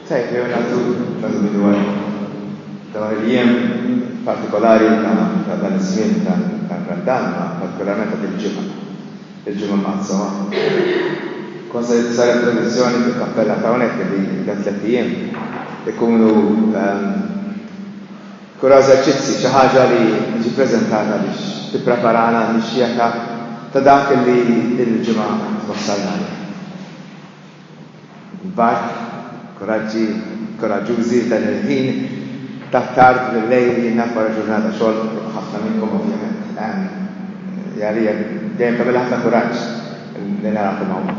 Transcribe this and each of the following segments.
Tajjeb jew nagħtu nagħtu bidu għal dawn il-jiem partikolari ta' ta' dan iż-żmien ta' ta' Randan, ma partikolarment ta' din il-ġimgħa, il-Ġimgħa Mqassama. Kont se saret tradizzjoni fil-kappella ta' hawnhekk li dan tliet ijiem ikunu kura eżerċizzi, xi ħaġa li tiġi ppreżentata biex tippreparana għall-mixja ta' ta' dak li din il-ġimgħa twassalna għalih. Mbagħad, kuraġġi, kuraġġużi, dan il-ħin ta' tard bil-lejl jien naf wara ġurnata xogħol, ħafna minnkom ovvjament, ehm, għalija dejjem tagħmilha ħafna kuraġġ li narakom hawn.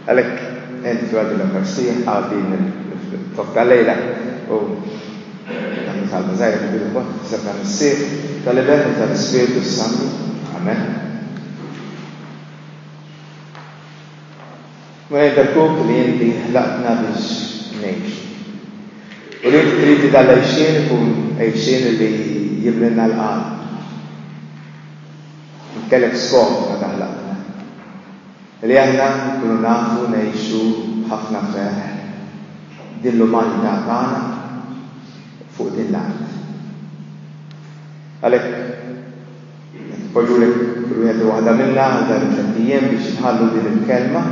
Għalhekk entru għal din l-Ewkaristija, għal din il-flokk tal-lejla u nagħmlu talba żgħira fil-bidu mbagħad f'isem tal-Missier, tal-Iben u tal-Ispirtu s-Santu. Amen. Mela jien Perkuk li inti ħlaqtna biex ngħixu. U li inti trid li dal-għixien ikun għixien li jimlilna l-qalb. Int kellek skop meta ħlaqtna. Li aħna nkunu nafu ngħixu b'ħafna ferħ din l-umanità tagħna fuq din l-art. Għalhekk. Poġġulek kull wieħed u waħda minna għal dan it-tlett ijiem biex inħallu din il-kelma,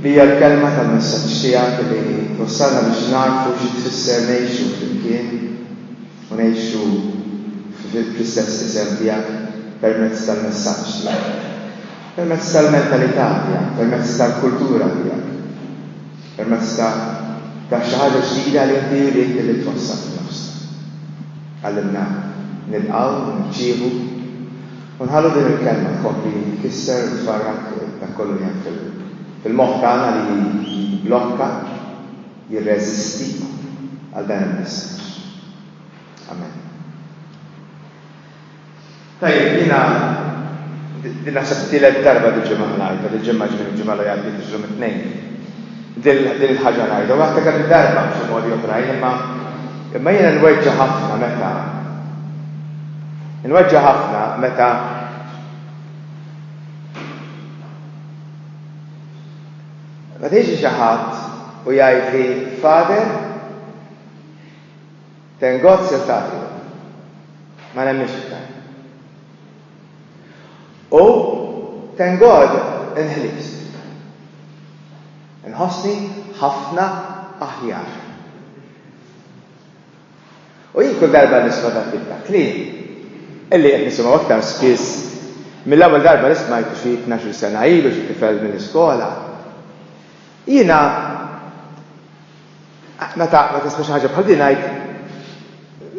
li hija l-kelma tal-messaġġ tiegħek li twassalna biex nagħrfu xi tfisser ngħixu flimkien u ngħixu fl-istess isem tiegħek permezz tal-messaġġ tiegħek, permezz tal-mentalità tiegħek, permezz tal-kultura tiegħek. Permezz ta' ta' xi ħaġa ġdida li inti ridt li twassal f'nofsna. Għallimna nilqgħu u nirċievu, u nħallu din il-Kelma tkompli tkisser u tfarrak dak kollu li hemm fil fil-moħħ tagħna li jibblokka, jirreżisti għal dan il-messaġġ. Amen. Tajjeb, jiena din naħseb it-tielet darba diġà ma ngħidha, dil-ġimgħa ġifieri l-ġimgħa li għaddiet illum it-Tnejn. Din il-ħaġa ngħidha, u għadtha kemm-il darba b'xi modi oħrajn, imma imma jiena nweġġa' ħafna meta nweġġa' ħafna meta meta jiġi xi ħadd u jgħidli, Father, Thank God Sir Taffy. Ma nemminx iktar. U thank God inħlift. Inħossni ħafna aħjar. U jien kull darba nisma' dak tip ta' kliem, illi qed nisimgħu aktar spiss mill-ewwel darba li smajtu xi tnax-il sena ilu xi tifel mill-iskola, jiena Meta tisma' xi ħaġa bħal din ngħid,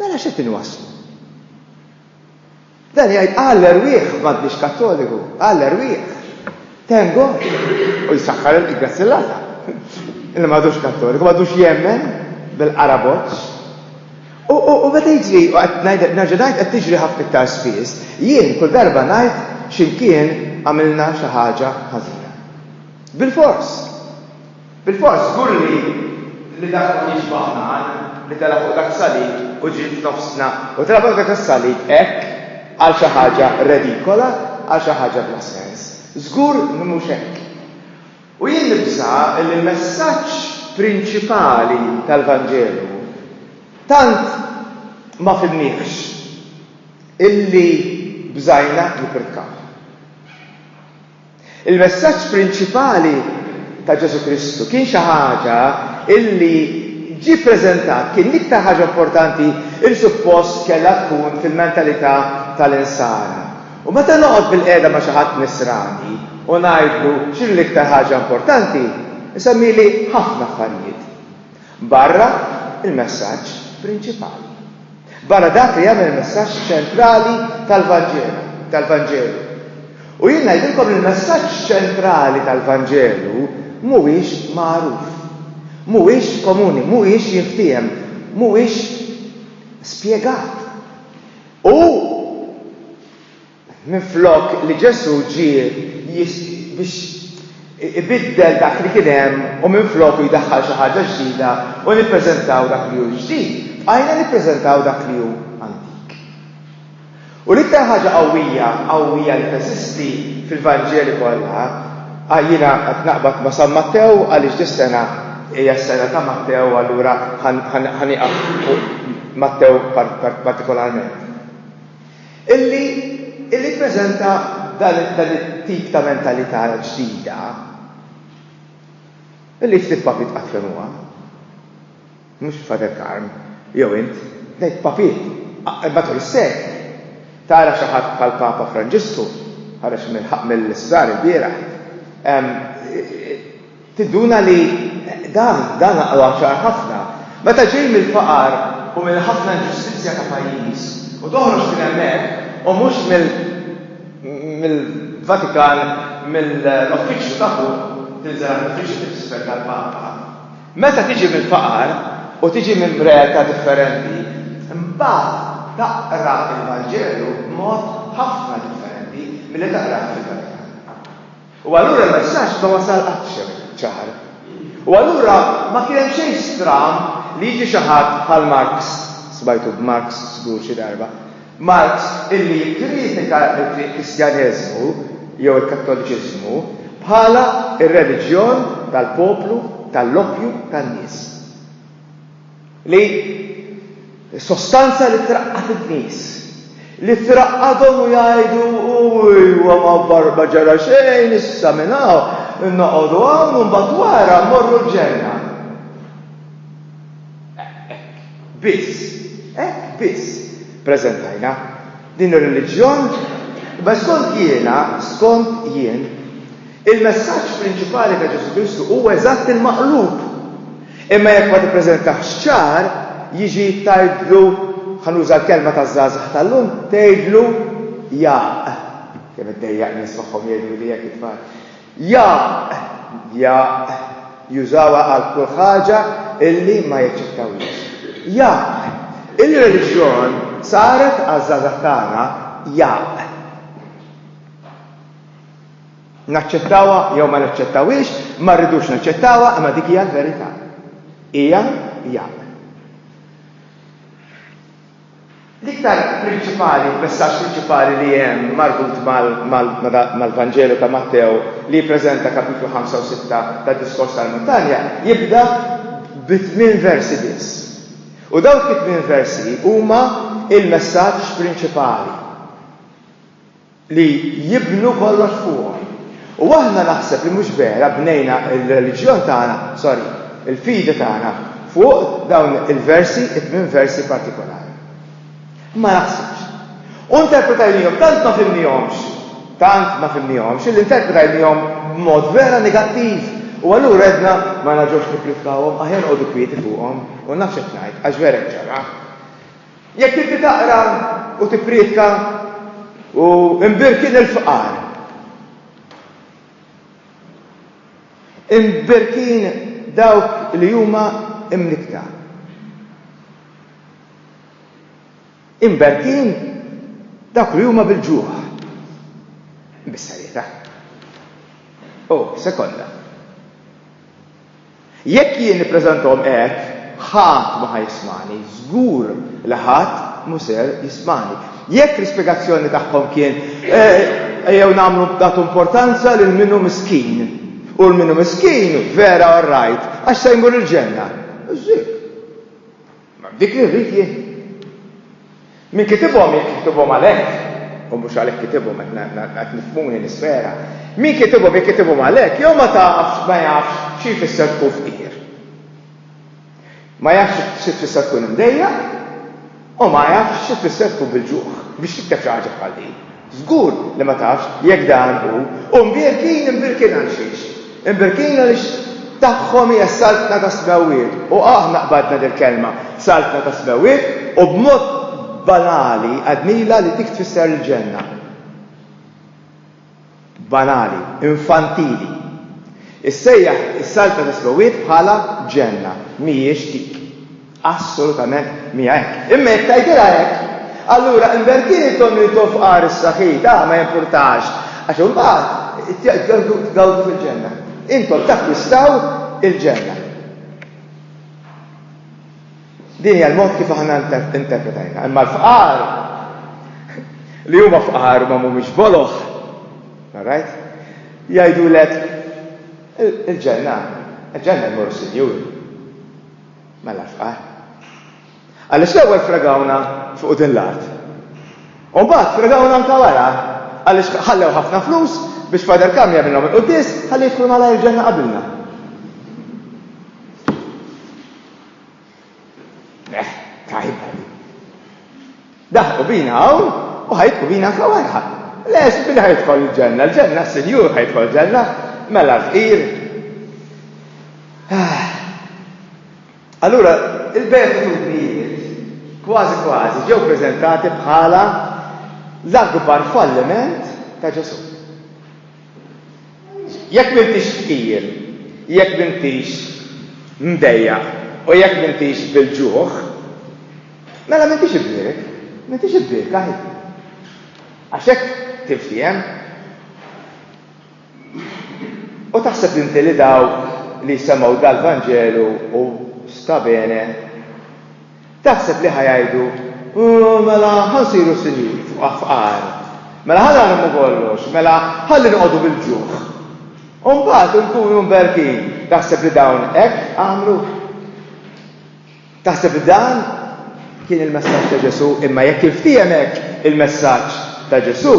Mela x'qed inwasslu? Dan jgħid Alla erwieħ m'għadniex Kattoliku, Alla erwieħ. Thank God. U jsaħħar il-grazzi l-Alla. Illi m'għadux Kattoliku, m'għadux jemmen bil-qaraboċ. U meta jiġri, u qed ngħid nerġa' ngħid qed tiġri ħafna iktar spiss, jien kull darba ngħid x'imkien għamilna xi ħaġa ħażina. Bilfors. Bilfors, żgur li li dak kien jiġbah nar li tela' fuq dak salib u ġie f'nofsna u tela' fuq dak is-salib hekk għal xi ħaġa redikola, għal xi ħaġa bla sens. Żgur li mhux hekk. U jien nibża' li l-messaġġ prinċipali tal-Vanġelu tant ma fhimniehx illi bżajna nippritkawh. Il-messaġġ prinċipali ta' Ġesù Kristu kien xi ħaġa li ġie ppreżentat, kien l-iktar ħaġa importanti li suppost kellha tkun fil-mentalità tal-insara. U meta noqgħod bilqiegħda ma' xi ħadd Nisrani u ngħidlu x'inhi l-iktar ħaġa importanti, isemmieli ħafna affarijiet. Barra l-messaġġ prinċipali. Barra dak li jagħmel il-messaġġ ċentrali tal-Vanġelu, tal-Vanġelu. U jien ngħidilkom li l-messaġġ ċentrali tal-Vanġelu mhuwiex magħruf, mhuwiex komuni, mhuwiex jinftiehem, mhuwiex spjegat. U Minflok li Ġesù ġie biex ibiddel dak li kien hemm u minfloku jdaħħal xi ħaġa ġdida u nippreżentaw dak li hu ġdid, bqajna nippreżentaw dak li hu antik. U l-iktar ħaġa qawwija, qawwija li teżisti fil-Vanġeli kollha, jiena qed naqbad ma' San Mattew għaliex dis-sena hija s-sena ta' Mattew allura ħa nieqaf fuq Mattew partikolarment. Illi illi ppreżenta dan dan it-tip ta' mentalità ġdida illi ftit papiet qatt fehmuha. Mhux Father Karm, jew int, ngħid papiet, matul is-sekli tara xi ħadd bħall-Papa Franġisku, ħareġ mill-isptar ilbieraħ, Tinduna li dan, dan aqwa ċar ħafna. Meta ġej mill-faqar u mill-ħafna inġustizzja ta' pajjiż u toħroġ minn hemmhekk u mhux mill, mill-Vatikan, mill-uffiċċju ta' fuq, tinżel għand l-uffiċċju tal-Isfel tal-Papa. Meta tiġi mill-faqar u tiġi minn realtà differenti, imbagħad taqra l-Vanġelu b'mod ħafna differenti milli taqrah fil-Vatikan. U allura l-messaġġ ma wasal qatt ċar. U allura ma kien hemm xejn stramb li jiġi xi ħadd bħal Marx, smajtu b'Marx żgur xi darba, Marx illi jikkritika l-Kristjaneżmu jew il-Kattoliċiżmu bħala r-reliġjon tal-poplu, tal-loppju tan-nies. li s-sostanza li traqqad in-nies, li traqqadhom u jgħidu, Ejwa, ma ġara xejn, issa minn hawn noqogħdu hawn u mbagħad wara mmorru l-ġenna. Hekk biss, hekk biss preżentajna. din ir-reliġjon, imma skont jiena, skont jien, il-messaġġ prinċipali ta' Ġesù Kristu huwa eżatt il-maqlub. Imma jekk ma tippreżentahx ċar, jiġi tgħidlu, ħa nuża l-kelma taż-żgħażagħ tal-lum, tgħidlu jaqq. Kemm iddejjaq nies magħhom jgħiduli hekk it-tfal. Jaqq! Jaqq! Jużawha għal kull ħaġa illi ma jaċċettawhiex. Jaqq! Il-reliġjon saret għaż-żgħażagħ tagħna jaqq! Naċċettawha jew ma naċċettawhiex, ma rridux naċċettawha imma dik hija l-verità. Hija jaqq! L-iktar prinċipali, l-messaġġ prinċipali li hemm marbut mal-Vanġelu ta' Mattew li jippreżenta Kapitlu 5 u 6 tad-Diskors tal-Muntanja jibda b' tmien versi biss. U dawk it-tmien versi huma l-messaġġ prinċipali. li jibnu kollox fuqhom. U aħna naħseb li mhux vera bnejna r-reliġjon tagħna, sorry, il-fidi tagħna fuq dawn il-versi, it-tmien versi partikolari. Ma naħsibx. U interpretajniehom, tant ma fhimniehomx, tant ma fhimniehomx illi interpretajniehom b'mod vera negattiv u allura għedna ma nerġgħux nippridkawhom, aħjar noqogħdu kwieti fuqhom u nafx qed ngħid għax vera hi ċara. Jekk inti taqra u tipprietka u imbirki lill-fqar, imbirkin dawk li huma imnikkta, imbirkin dawk li huma bil-ġuħ, imbissarjetha, u sekonda. Jekk jien nippreżentahom hekk, ħadd ma ħa jismagħni, żgur li ħadd mhu ser jismagħni. Jekk l-ispjegazzjoni tagħhom kien, Ejjew nagħmlu nagħtu importanza lil min hu miskin, u min hu miskin vera orrajt, għax se jmur il-ġenna. Hekk. Dik li rrid jien. Min kitibhom jekk kitibhom għalhekk, u mhux għalhekk kitibhom qed nifhmuni nisfera, min kitibhom jekk kitibhom għalhekk jew ma tafx ma jafx xi jfisser tkun fqir. Ma jafx xi tfisser tkun imdejjaq u ma jafx xi tfisser tkun bil-ġuħ biex tikteb xi ħaġa bħal din. Żgur li ma tafx jekk dan hu. U mbierkin, imbierkin għal xiex? Imbierkin għaliex tagħhom hija s-Saltna tas-Smewwiet. U aħna qbadna dil-kelma, Saltna tas-Smewwiet, u b'mod banali għednilha li dik tfisser il-Ġenna. Banali, infantili. Issejjaħ is-Saltna tas-Smewwiet bħala Ġenna. Mhijiex dik. Assolutament mija hekk. Imma jekk tgħidilha hekk, allura invertili tonnu jitgħob fqar issa ħi, ta, ma jimpurtax, għax imbagħad tgawdu fil-ġenna. Intom takkwistaw il-ġenna. Din hija l-mod kif aħna interpretajna. Imma l-fqar li huma fqar ma mhumiex boloħ, right? Jgħidulek il-ġenna, il-ġenna jmur sinjur. Mela fqar. Għaliex l-ewwel fregawna fuq din l-art. U mbagħad fregawna anke wara għaliex ħallew ħafna flus biex Father Cam jagħmilhom il-quddies ħalli jidħlu malajr il-ġenna qabilna. Eh, tajba. Daħqu bina hawn u ħa jibqu bina anka wara. Lex, min ħa jidħol il-ġenna? Il-ġenna s-Sinjur ħa jidħol ġenna, mela l-fqir. Ah. Allura, il-beatitudnijiet kważi kważi ġew preżentati bħala l-akbar falliment ta' Ġesù. Jekk m'intix tqil, jekk m'intix mdejjaq u jekk m'intix bil-ġuħ, mela m'intix ibbierek, m'intix ibbierka hi. Għax hekk tinftiehem u taħseb inti li dawk li jsemgħu dal-Vanġelu u sta bene, Taħseb li ħa jgħidu, Ooh, mela ħa nsiru sinjuri fqar. Mela ħa narmu kollox, mela ħalli noqogħdu bil-ġuħ. U mbagħad inkunu mberkin. Taħseb li dawn hekk għamlu? Taħseb li dan kien il-messaġġ ta' Ġesù, imma jekk il-ftiehem hekk il-messaġġ ta' Ġesù,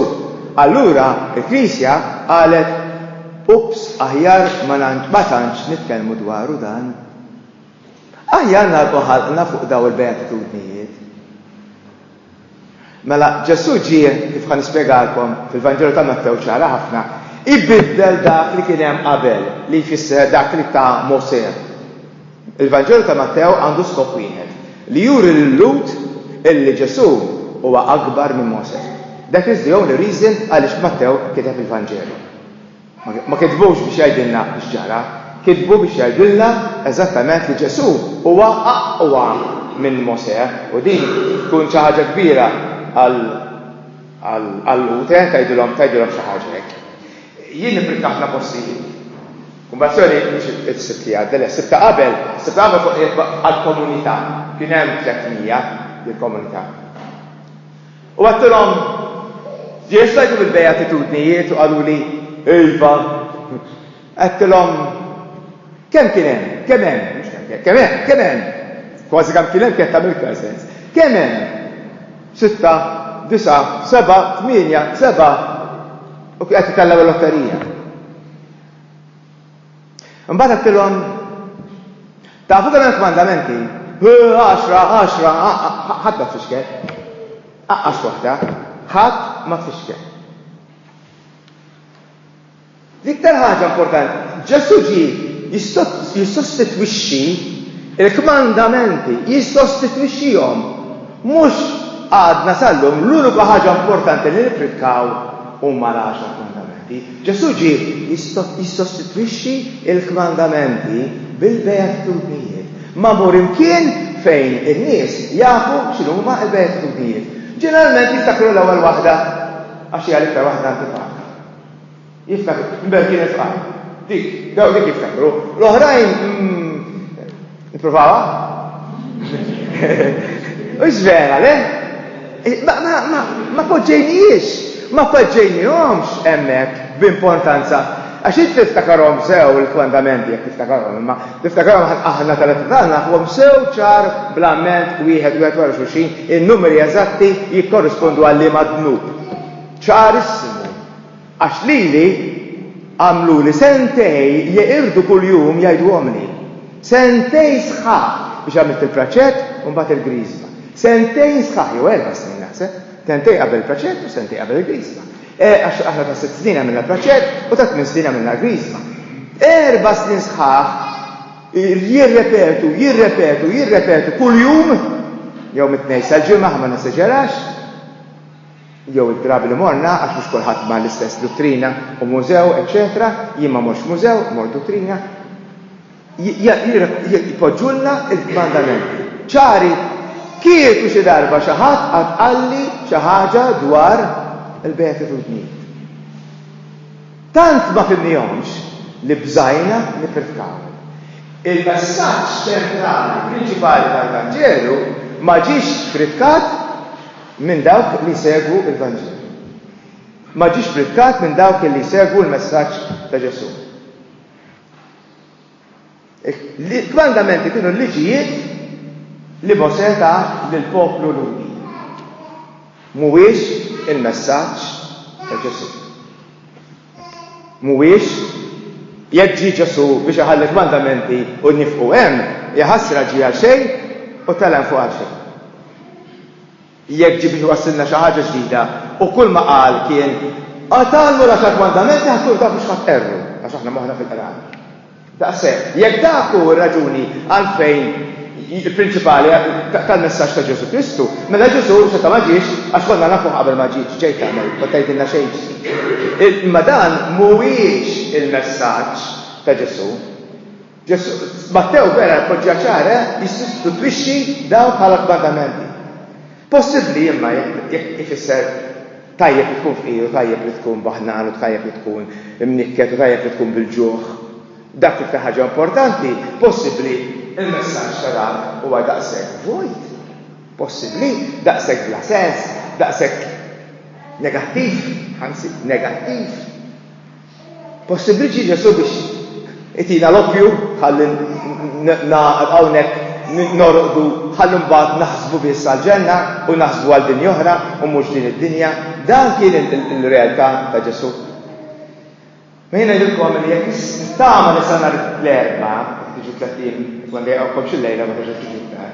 allura il-Knisja qalet ups aħjar ma tantx nitkellmu dwaru dan. Aħjar nagħlqu ħalqna fuq dawn il-beatitudnijiet. Mela, Ġesù ġie, kif ħa nispjegalkom fil-Vanġelu ta' Mattew ċara ħafna, ibiddel dak li kien hemm qabel, li jfisser dak li ta Mosè. Il-Vanġelu ta' Mattew għandu skop wieħed, li juri lil-Lhud illi Ġesù huwa akbar minn Mosè. That is the only reason għaliex Mattew kiteb il-Vanġelu. Ma kitbux biex jgħidilna x'ġara, kitbu biex jgħidilna eżattament li Ġesù huwa aqwa minn Mosè u din tkun xi ħaġa kbira għall-Lhud, eh, tgħidilhom tgħidilhom xi ħaġa hekk. Jien nipprika ħafna postijiet. Kumbazzjoni mhux is-Sibt li għadda, le, s-Sibt ta' qabel, s-Sibt ta' qabel fuq qiegħed għall-komunità, kien hemm 300 lill-komunità. U għedtilhom, Jien xtajthom il-Beatitudnijiet u qaluli, Iva. Għedtilhom, Kemm kien hemm, kemm hemm, mhux kemm kien, kemm hemm, kemm hemm, kważi kemm kien hemm kienet tagħmel iktar sens, kemm hemm sitta, disgħa, sebgħa, tmienja, sebgħa, u kien qed itellgħu l-lotterija? Imbagħad għedtilhom, Tafu kemm hemm kmandamenti? Għaxra, għaxra, ħadd ma tfixkel. Aqqas waħda, ħadd ma tfixkel. L-iktar ħaġa importanti, Ġesu ġi jissostitwixxi il-kmandamenti, jissostitwixxihom Mhux għadna sal-lum l-unika ħaġa importanti li nippritkaw huma l-Għaxar Kmandamenti. Ġesù ġie jissostitwixxi l-kmandamenti bil-beatitudnijiet. Ma mur imkien fejn in-nies jafu x'inhuma l-beatitudnijiet. Ġeneralment jiftakru l-ewwel waħda għax hija l-iktar waħda antipaka. Jiftakru. Imbagħad kien ifqar. Dik, daw dik jiftakru. L-oħrajn Nipprovawa? Ux vera, le? Ma poġġejnijiex, ma poġġejnijomx emmek b'importanza. Għax int tiftakarom sew il-fondamenti jek tiftakarom, imma tiftakarom aħna tal-etadana għom sew ċar bl-amment wieħed wieħed wara xuxin, il-numeri eżatti jikkorrispondu għalli madnub. ċarissimu. Għax lili għamluli sentej jeqirdu kuljum jgħiduhomli. Sentej sħaħ biex għamilt il-praċett u mbagħad il-griżma. Sentejn sħaħ, jew erba' snin naħseb, sentejn qabel il-praċett u sentejn qabel il-griżma. Eh, għax aħna ta' sitt snin għamilna praċett u ta' tmien snin għamilna l-griżma. Erba' snin sħaħ jirrepetu, jirrepetu, jirrepetu kuljum jew mit-tnejn sal-ġimgħa ma neseġerax. jew id-drabi li morna, għax mhux kulħadd mar l-istess duttrina u mużew, eċċetera, jien ma mortx mużew, mort duttrina, jpoġġulna l-kmandamenti ċari. Kieku xi darba xi ħadd qatt qalli xi ħaġa dwar il-beatitudnijiet. Tant ma fhimnihomx li bżajna nippritkaw. Il-messaġġ ċentrali prinċipali tal-Vanġelu ma ġiex pritkat. minn dawk li jsegwu l-Vanġelu. Ma ġiex prikkat minn dawk li jsegwu l-messaġġ ta' Ġesù. Il-kmandamenti kienu l-liġijiet li Mosè ta lill-poplu Lhudi. Mhuwiex il-messaġġ ta' Ġesù. Mhuwiex jekk ġie Ġesù biex iħalli l-kmandamenti u nifqu hemm, ja ħasra ġie għal xejn u tela' 'l fuq għal xejn. Jekk ġie biex iwassilna xi ħaġa ġdida, u kull ma qal kien, Qatalni u l-Għaxar Kmandamenti ħa tkunu taf biex ħa tqerru, għax aħna moħħna fil-qrar. Daqshekk, jekk dak hu r-raġuni għalfejn il-prinċipali tal-messaġġ ta' Ġesù Kristu, mela Ġesù xorta ma ġiex għax konna nafuh qabel ma ġie, x'ġej tagħmel, kont tgħidilna xejn ġdid. Imma dan mhuwiex il-messaġġ ta' Ġesù. Ġesù. Mattew vera jpoġġiha ċara, eh, jissostitwixxi dawn bħala kmandamenti. Possibbli imma jekk ifisser tajjeb li tkun fqir u tajjeb li tkun baħnan u tajjeb li tkun imnikket u tajjeb li tkun bil-ġuħ. Dak l-iktar ħaġa importanti, possibbli il-messaġġ ta' dan huwa daqshekk vojt? Possibbli daqshekk bla sens, daqshekk negattiv, anzi negattiv? Possibbli Ġesù biex itina l-oppju ħalli nagħqad hawnhekk norqdu ħalli mbagħad naħsbu biss għall-ġenna u naħsbu għal dinja oħra u mhux din id-dinja. Dan kien il-realtà ta' Ġesù. Ma jien ngħidilkom li jekk tama li sa nhar l-erba, tiġu tliet ijiem tkun dejqhomkom xi lejla ma terġa' tiġu iktar.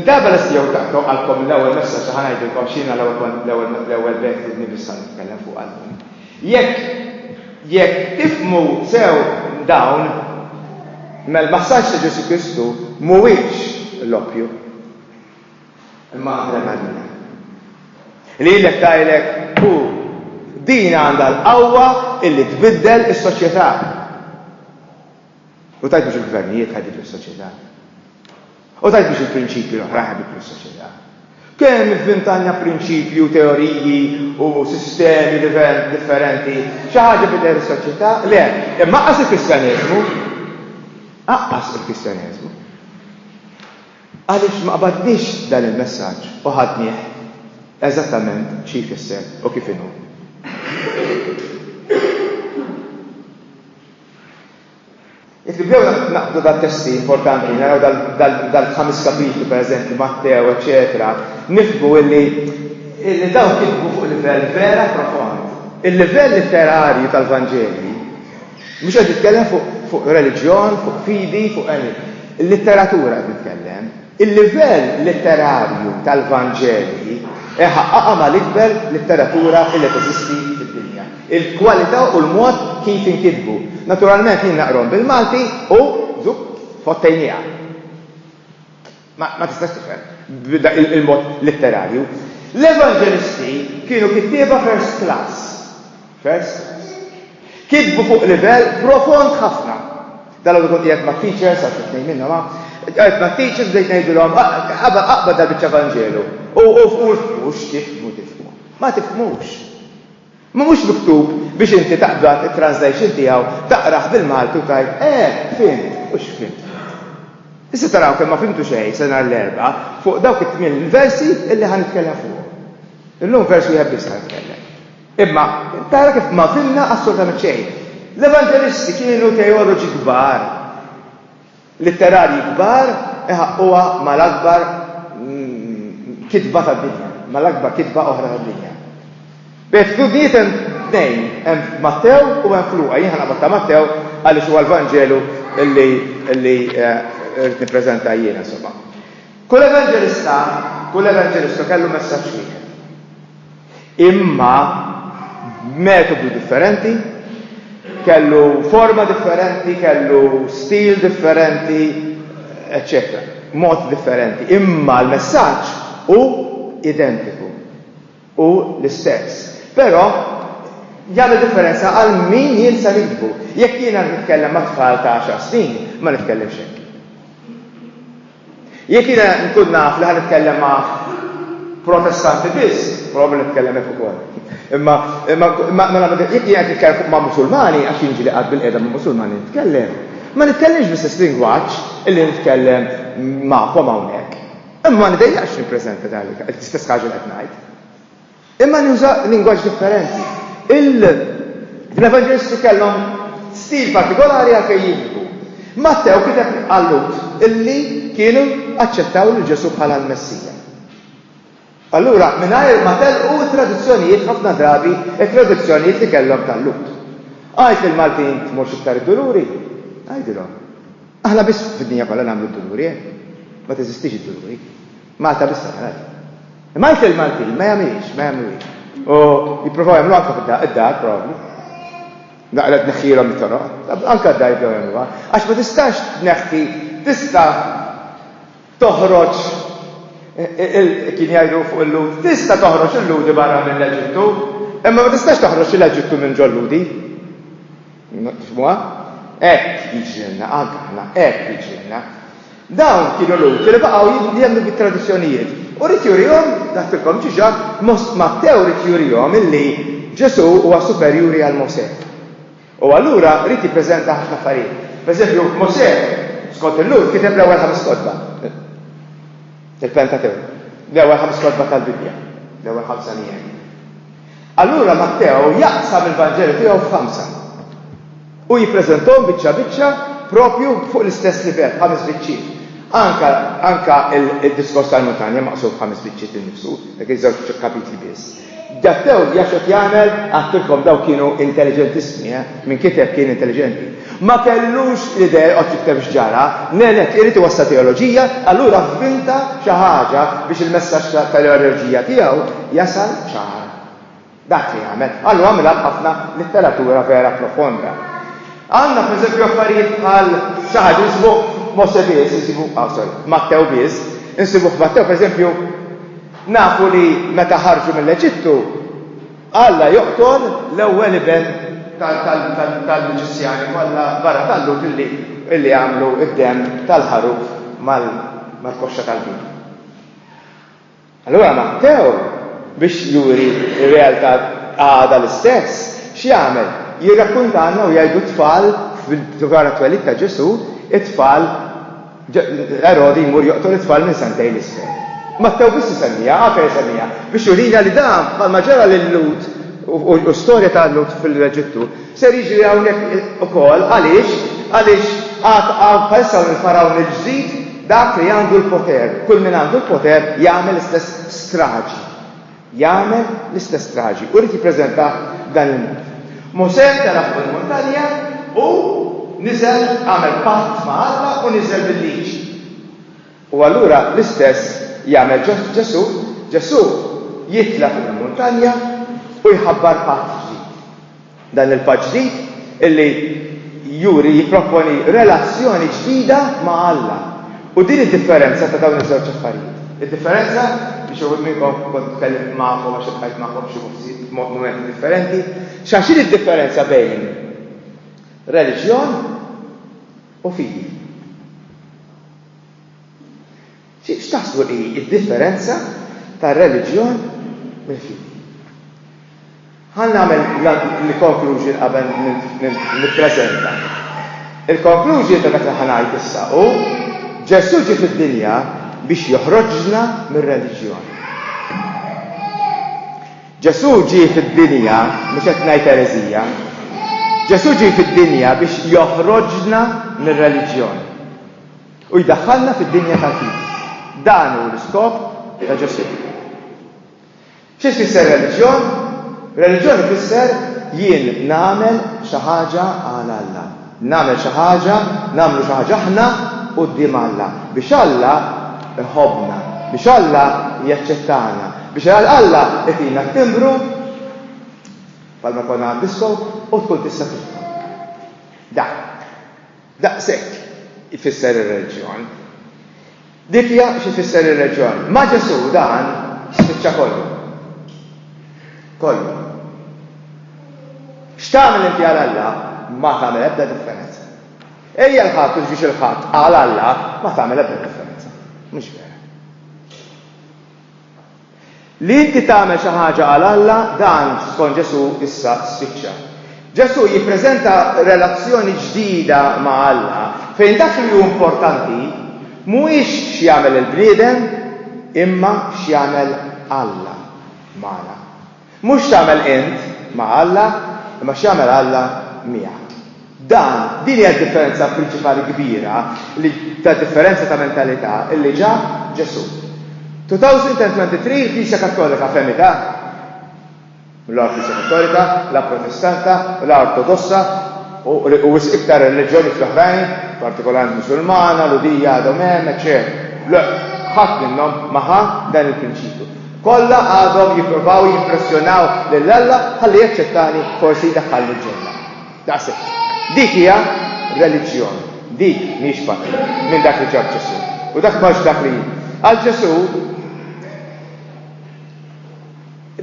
Darba lesti jew taqtgħu qalbkom l-ewwel messaġġ ħa ngħidilkom x'jiena l-ewwel l-ewwel bejt li biss ħa nitkellem fuq qalbkom. Jekk jekk tifhmu sew dawn, mela l-massaġġ ta' Ġesù Kristu mhuwiex l-oppju, imma adrenalina. Lilek tgħidlek hu, din għandha l-qawwa illi tbiddel is-soċjetà. U tajt biex il-gvernijiet ħaditlu s-soċjetà. U tajt biex il-prinċipji l-oħra ħaditlu s-soċjetà. Kemm ivvintanja prinċipju, teoriji u sistemi differenti, xi ħaġa bidel is-soċjetà? Le, imma qas il-Kristjaneżmu. Aqqas il-Kristjaneżmu. Għaliex ma qbaddix dan il-messaġġ u ħadnieh eżattament xi jfisser u kif inhu. Jekk nibdew naqbdu dal-testi importanti, naraw dal-ħames kapitli pereżempju, Mattew, eċċetera, nifhmu illi illi dawn kitbu fuq livell vera profond. Il-livell litterarju tal-Vanġelji mhux qed jitkellem fuq reliġjon, fuq fidi, fuq għeni. Il-litteratura qed nitkellem. Il-livell litterarju tal-Vanġeli iħaqqaqha mal-ikber litteratura li teżisti fid-dinja, il-kwalità u l-mod kif inkitbu. Naturalment jien naqrahom bil-Malti u żupp tfottejniha. Ma tistax tifhem b'dak il-mod litterarju. L-Evanġelisti kienu kittieba first class. First class. Kitbu fuq livell profond ħafna. Dalgħodu kont qiegħed mat-teachers, għax it-tnejn minnhom hawn, qiegħed mat-teachers bdejt ngħidilhom aqbad dal biċċa Vanġelu. U mhux tifhmu tifhmu. Ma tifhmux. Ma mhux miktub biex inti taqbad it-translation tiegħu, taqrah bil-Malti u tgħid, eh, fimt, mhux fimt. Issa taraw kemm ma fimtu xejn se nhar l-Erbgħa fuq dawk it-tmien versi illi ħa nitkellem fuqhom. Illum vers wieħed biss ħa nitkellem. Imma, tara kif ma fhimna assolutament xejn. L-Evanġelisti kienu teoloġi kbar, litterarji kbar iħaqquha mal-akbar kitba tad-dinja, mal-akbar kitba oħra tad-dinja. B'attitudnijiet hemm tnejn, hemm f'Mattew u hemm f'Luqa. Jien ħa naqbad ta' Mattew għaliex huwa l-Vanġelu li li rrid nippreżenta jiena, insomma. Kull Evanġelista, kull Evanġelistu kellu messaġġ wieħed. imma b'metodu differenti, kellu forma differenti, kellu stil differenti, eċċetera mod differenti, imma l-messaġġ hu identiku, hu l-istess. Però jagħmel differenza għal min jien se nikbu. Jekk jiena nitkellem ma' tfal ta' għaxar snin, ma nitkellimx hekk. Jekk jiena nkun naf li ħa nitkellem ma' Protestanti biss, probabbli nitkellem hekk ukoll. Imma imma mela jekk jien qed nitkellem fuq ma' Musulmani għax jien ġieli qatt bilqiegħda ma' Musulmani nitkellem, ma nitkellimx bl-istess lingwaġġ li nitkellem magħkom hawnhekk. Imma ma nidejjaqx nippreżenta dan l-istess ħaġa li qed ngħid. Imma nuża lingwaġġ differenti. Il-Evanġelisti kellhom stil partikolari għalfejn jigdbu. Mattew kiteb għal-Lhud illi kienu aċċettaw lil Ġesù bħala l-Messija. Allura, mingħajr ma telqu t-tradizzjonijiet ħafna drabi t-tradizzjonijiet li kellhom tal-Lhud. Għid lill-Maltin tmurx iktar id-duluri, għidilhom. Aħna biss fid-dinja kollha nagħmlu d-duluri, eh? Ma teżistix id-duluri. Malta biss tagħmel hekk. Imma anke l-Maltin ma jagħmilhiex, ma jagħmluhiex. U jippruvaw jagħmlu anke fid-dar probabbli. Naqra tneħħilhom it-toroq, anke d-dar jibdew jagħmluha. Għax ma tistax tneħħi, tista' toħroġ kien jgħidu fuq il-Lud, tista' toħroġ il-Ludi barra mill-Eġittu, imma ma tistax toħroġ l-Eġittu minn ġol-Ludi. Tifhmuha? Hekk jiġrilna, anke aħna, hekk jiġrilna. Dawn kienu Lhud li baqgħu jemmnu bit-tradizzjonijiet. U ried jurihom, għedtilkom diġà, Mattew ried jurihom illi Ġesù huwa superjuri għal Mosè. U allura ried jippreżenta ħafna affarijiet. Pereżempju, Mosè, skont il-Lhud, kiteb l-ewwel ħames kotba, il-Pentatewk, l-ewwel ħames kotba tal-Bibbja, l-ewwel ħamsa nien. Allura Matteo jaqsam il-Vanġelu tiegħu f'ħamsa u jippreżentahom biċċa biċċa proprju fuq l-istess livell, ħames biċċiet. Anke anke d-Diskors tal-Muntanja maqsum f'ħames biċċiet innifsu, dak iż-żewġ kapitli biss. Datteo jaf x'qed jagħmel, għattilkom dawn kienu intelliġentissimi, eh, min kiteb kien intelliġenti. Ma kellux l-idea joqgħod jikteb x'ġara, m'hemm hekk, irid iwassal teoloġija, allura vvinta xi ħaġa biex il-messaġġ tal-eorġija tiegħu jasal ċar. Dak li għamel. Għallu għamilha b'ħafna litteratura vera profonda. Għandna pereżempju affarijiet bħal xi ħaġa nsibu Mose biss, nsibu ah, sorry, Mattew biss, insibu f'Mattew pereżempju nafu li meta ħarġu mill-Eġittu Alla joqtol l-ewwel iben tal-Miġisjani kollha barra tal-Lhud illi għamlu d-demm tal-ħaruf mal-koxxa tal-bhim. Allura Mattew, biex juri r-realtà għadha l-istess, x'jagħmel? Jirrakkuntalna u jgħidu t-tfal dwar it-twelid ta' Ġesù, it-tfal, Erodi jmur joqtol it-tfal minn santejn 'l isfel. Mattew biss isemmiha, Afer isemmiha, biex jurina li dan, bħalma ġara lil-Lhud u storja ta' Lhud fl-Eġittu, ser jiġri hawnhekk ukoll. Għaliex? Għaliex għad hawn bħalissa hawn il-Fargħun il-ġdid, dak li għandu l-poter, kull min għandu l-poter jagħmel l-istess straġi. Jagħmel l-istess traġi u ried jippreżentah b'dan il-mod. Mosè tela' fuq il-muntanja u niżel, għamel patt ma' Alla u niżel bil-Liġi. U allura l-istess jagħmel Ġesù, Ġesù jitla' fuq il-muntanja u jħabbar patt ġdid. Dan il-patt ġdid li juri jipproponi relazzjoni ġdida ma' Alla. U din id-differenza ta' dawn iż-żewġ affarijiet. Id-differenza, li xi wħud minnkom kont tkellimt magħkom għax iltqajt magħkom f'xi postijiet f'mumenti differenti, xa x'inhi d-differenza bejn reliġjon u fidi? X'taħsbu hi d-differenza tar-reliġjon mill-fidi? Ħa nagħmel l-conclusion qabel nippreżenta. Il-conclusion ta' dak li ħa ngħid issa hu, Ġesù ġie fid-dinja biex joħroġna mir-reliġjon. Ġesù ġie fid-dinja, mhux qed ngħid ereżija, Ġesù ġie fid-dinja biex joħroġna mir-reliġjon. U jdaħħalna fid-dinja tal-fidi. Dan hu l-iskop ta' Ġo City. Xi tfisser reliġjon? Reliġjon ifisser jien nagħmel xi ħaġa għal Alla. Nagħmel xi ħaġa, nagħmlu xi ħaġa aħna quddiem Alla, biex Alla jħobbna, biex Alla jaċċettana, biex Alla jtina t-timbru, bħalma jkollna għad-disko, u tkun tista' tidħol. Dak. Daqshekk ifisser ir-reliġjon. Difja xi tfisser ir-reliġjon? Ma' Ġesù dan spiċċa kollu. Kollu. X'tagħmel inti għal Alla ma tagħmel ebda differenza. Ejja l-Ħadd u ġġiex il-Ħadd għal Alla ma tagħmel ebda differenza. Mhux vera. Li inti tagħmel xi ħaġa għal Alla, dan, skont Ġesù, issa spiċċa. Ġesù jippreżenta relazzjoni ġdida ma' Alla fejn dak li hu importanti mhuwiex x'jagħmel il-bniedem imma x'jagħmel Alla magħna. Mhux x'tagħmel int ma' Alla, imma x'jagħmel Alla miegħek. Dan, din hija d-differenza prinċipali kbira li, ta' differenza ta' mentalità, li ġab Ġesù. 2023 il-Knisja Kattolika fehmitha, la l-Knisja Kattolika, la l-Protestanta, la Ortodossa u u wisq iktar ir-reliġjonijiet l-oħrajn, partikolarment Musulmana, Lhudija għadhom hemm, eċċetera. Le, ħadd minnhom ma ħa dan il-prinċipju. Kollha għadhom jippruvaw jimpressjonaw lil Alla ħalli jaċċettani forsi jdaħħalni ġenna. Daqshekk. Dik hija reliġjon. Dik mhix parti minn dak li ġab Ġesù. U dak mhux dak li Għal Ġesù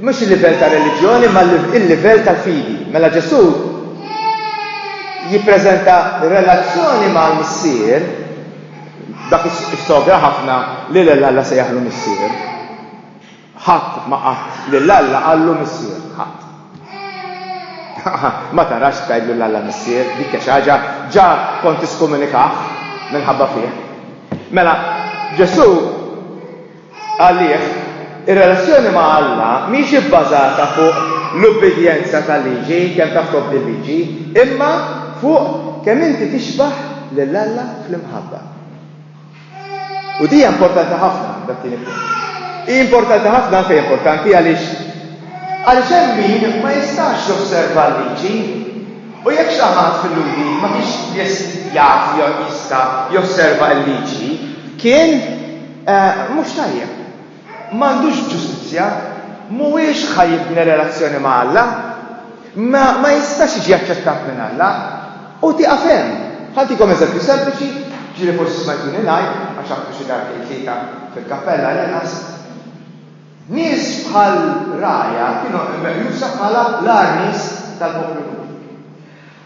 mhux il-livell ta' reliġjoni ma il-livell tal-fidi. Mela Ġesù jippreżenta relazzjoni mal-Missier Dak is-sogra ħafna li lil Alla sejjaħlu missier. Ħadd ma qatt lil Alla qallu missier, ħadd. Ma tarax tgħidlu lil Alla missier, dik hija xi ħaġa ġa kont tiskomunikah minħabba fih. Mela, Ġesù Għalih, ir-relazzjoni ma' Alla mhix ibbażata fuq l-ubbidjenza tal-liġi, kemm taf tobdi l-liġi, imma fuq kemm inti tixbah lil Alla fl-imħabba. U din hija importanti ħafna, dat-tieni punt. Hi importanti ħafna għalfejn importanti għaliex għaliex hemm min ma jistax josserva l-liġi u jekk xi ħadd fil-Lhudi ma kienx jaf jew jista' josserva l-liġi, kien Mhux tajjeb. M'għandux ġustizzja. Mhuwiex ħa jibni relazzjoni ma' Alla. Ma, ma jistax jiġi aċċettat minn Alla. U tieqaf hemm. Ħa ntikom eżempju sempliċi, ġieli forsi smajtuni ngħid, għax għadtu xi darba jew tlieta fil-kappella għall-inqas. Nies bħal Raja kienu meqjusa bħala l-agħar nies tal-poplu Lhudi.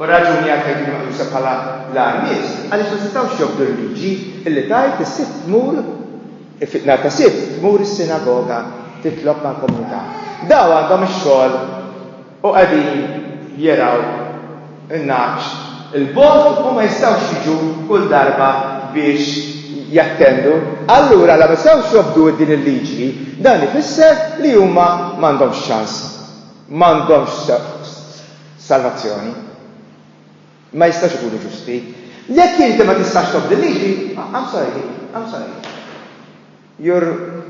U r-raġuni għalfejn kienu meqjusa bħala l-agħar nies, għaliex ma setgħux jobdu l-liġi li tgħid is-Sibt tmur, nhar ta' Sibt tmur is-sinagoga titlob mal-komunità. Daw għandhom ix-xogħol u qegħdin jergħu n-nagħaġ 'l bogħod u ma jistgħux jiġu kull darba biex jattendu. Allura la ma setgħux jobdu din il-liġi, dan ifisser li huma m'għandhomx ċans. M'għandhomx Salvazzjoni. Ma jistgħux ikunu ġusti. Jekk inti ma tistax tobdi l-liġi, I'm sorry, I'm sorry. You're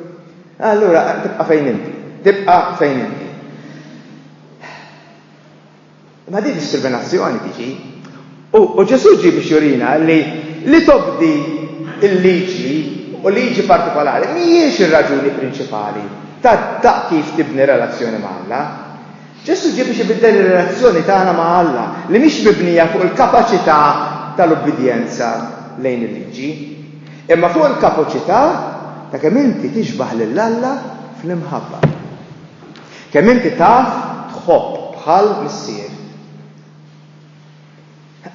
Allura tibqa' fejn inti. Tibqa' fejn inti. Ma din diskriminazzjoni tiġi. U Ġesù ġi biex jurina li li tobdi il-liġi u liġi partikolari mhijiex ir-raġuni prinċipali ta' kif tibni relazzjoni ma' Alla. Ġesù ġie biex ibiddel ir-relazzjoni tagħna ma' Alla, li mhix mibnija fuq il-kapaċità tal-ubbidjenza lejn il-liġi, imma fuq il-kapaċità ta' kemm inti tixbah lil Alla fl-imħabba. Kemm inti taf tħobb bħal Missier.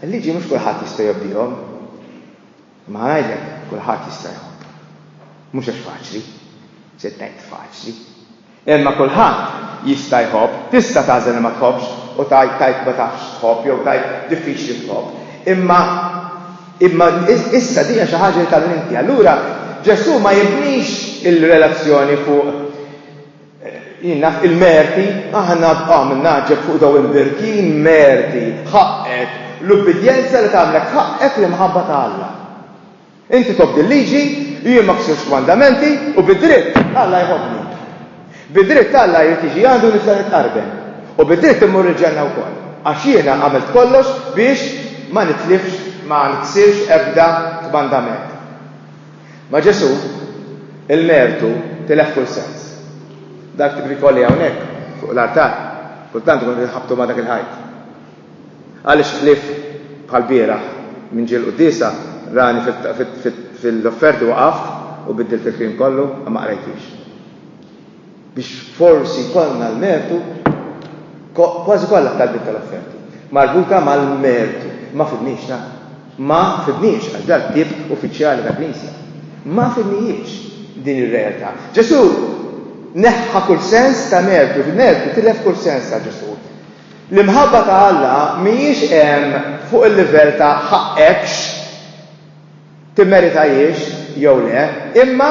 Il-liġi mhux kulħadd jista' jobdihom. Imma ngħidlek, kulħadd jista' jħobb. Mhux għax faċli. Se tgħid faċli. Imma kulħadd jista' jħobb. Tista' tagħżel li ma tħobbx u tgħid tajb ma tafx tħobb jew tajb diffiċli tħobb. Imma imma issa din hija xi ħaġa li tagħmel inti. Allura Ġesù ma jibnix il-relazzjoni fuq Jien naf il-merti, aħna bqa' min ngħaġġeb fuq dawn il-birkin, merti, ħaqqek, l-ubbidjenza li tagħmlek ħaqqek l-imħabba ta' Alla. Inti tobdi l-liġi u jien ma ksirtx kmandamenti u bid-dritt Alla jħobbni. Bid-dritt Alla jrid jiġi għandi u nitla' nitqarben. U bid-dritt immur il-ġenna wkoll. Għax jiena għamilt kollox biex ma nitlifx, ma niksirx ebda kmandament. Ma' Ġesù, il-mertu tilef kull sens. Dak tip rikolli hawnhekk, fuq l-artal, kultant ikun qed inħabbtu ma' dak il-ħajt. Għaliex ħlief bħall-bieraħ, minn ġie l-quddiesa, rani fil-offerti waqaft u biddilt il-kliem kollu, ma qrajtix. biex forsi jkollna l-mertu, kważi kollha t-talbiet tal-offerti marbuta mal-mertu ma fidniex ta'. Ma fidniex, għax dan ktieb uffiċjali ta' Knisja. Ma fidnihiex din ir-realtà. Ġesù neħħa kull sens ta' mertu, il-mertu tilef kull sens għal Ġesù. L-imħabba ta' Alla mhijiex hemm fuq il-livell ta' ħaqqekx timmeritahiex jew le, imma,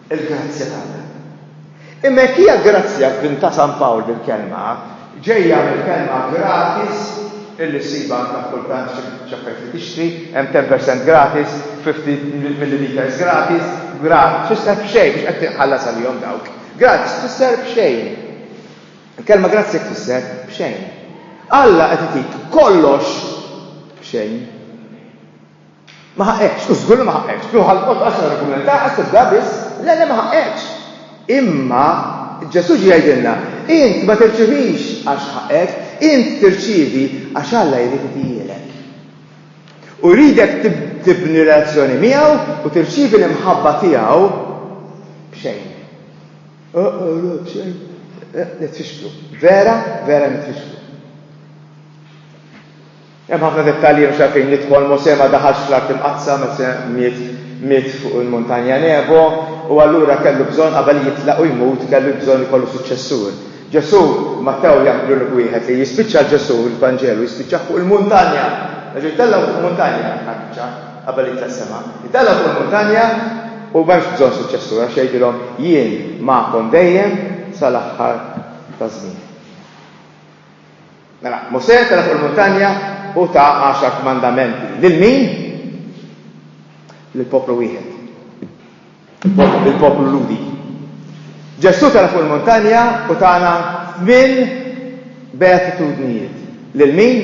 Il-grazzja t'Alla. Imma jekk hija grazzja f'din ta' San Pawl bil-kelma, ġejja mill-kelma gratis illi ssibha anke kultant xi affarijiet li tixtri, hemm ten per cent gratis, fifty milliliters gratis, gratis tfisser b'xejn biex qed tinħallas għalihom dawk. Gratis tfisser b'xejn. Il-kelma grazzja tfisser b'xejn. Alla qed itik kollox b'xejn. Ma ħaqqekx, u żgur li ma ħaqqekx. Kieku ħallqot għaxar argumentati ħadd tibda biss, le le ma ħaqqekx. Imma Ġesù ġie jgħidilna, int ma tirċivix għax ħaqqek, int tirċievi għax Alla jrid itijielek. U jridek tibni relazzjoni miegħu u tirċievi l-imħabba tiegħu b'xejn. Ah, ah, le, b'xejn. Eh, nitfixklu. Vera, vera nitfixklu. Hemm ħafna dettalji mhux għalfejn nidħol, Mosè ma daħalx fl-Art Imqaddsa, Mosè miet miet fuq il-Muntanja Nebo, u allura kellu bżonn qabel jitlaq u jmut kellu bżonn ikollu suċċessur. Ġesù, Mattew jagħmlulek wieħed li jispiċċa l-Ġesù, il-Vanġelu, jispiċċah fuq il-muntanja. Nerġa' jitellgħu fuq muntanja ħabiċċa qabel jitlaq sema. Jitellgħu fuq il-muntanja u m'hemmx bżonn suċċessur għax jgħidilhom jien magħkom dejjem sal-aħħar taż-żmien. Mela, Mosè tela' fuq il-muntanja u ta għaxar kmandamenti. Lil min? Lil poplu wieħed. Lil poplu Ludi. Ġesù tela' fuq il-muntanja u tagħna tmien beatitudnijiet. Lil min?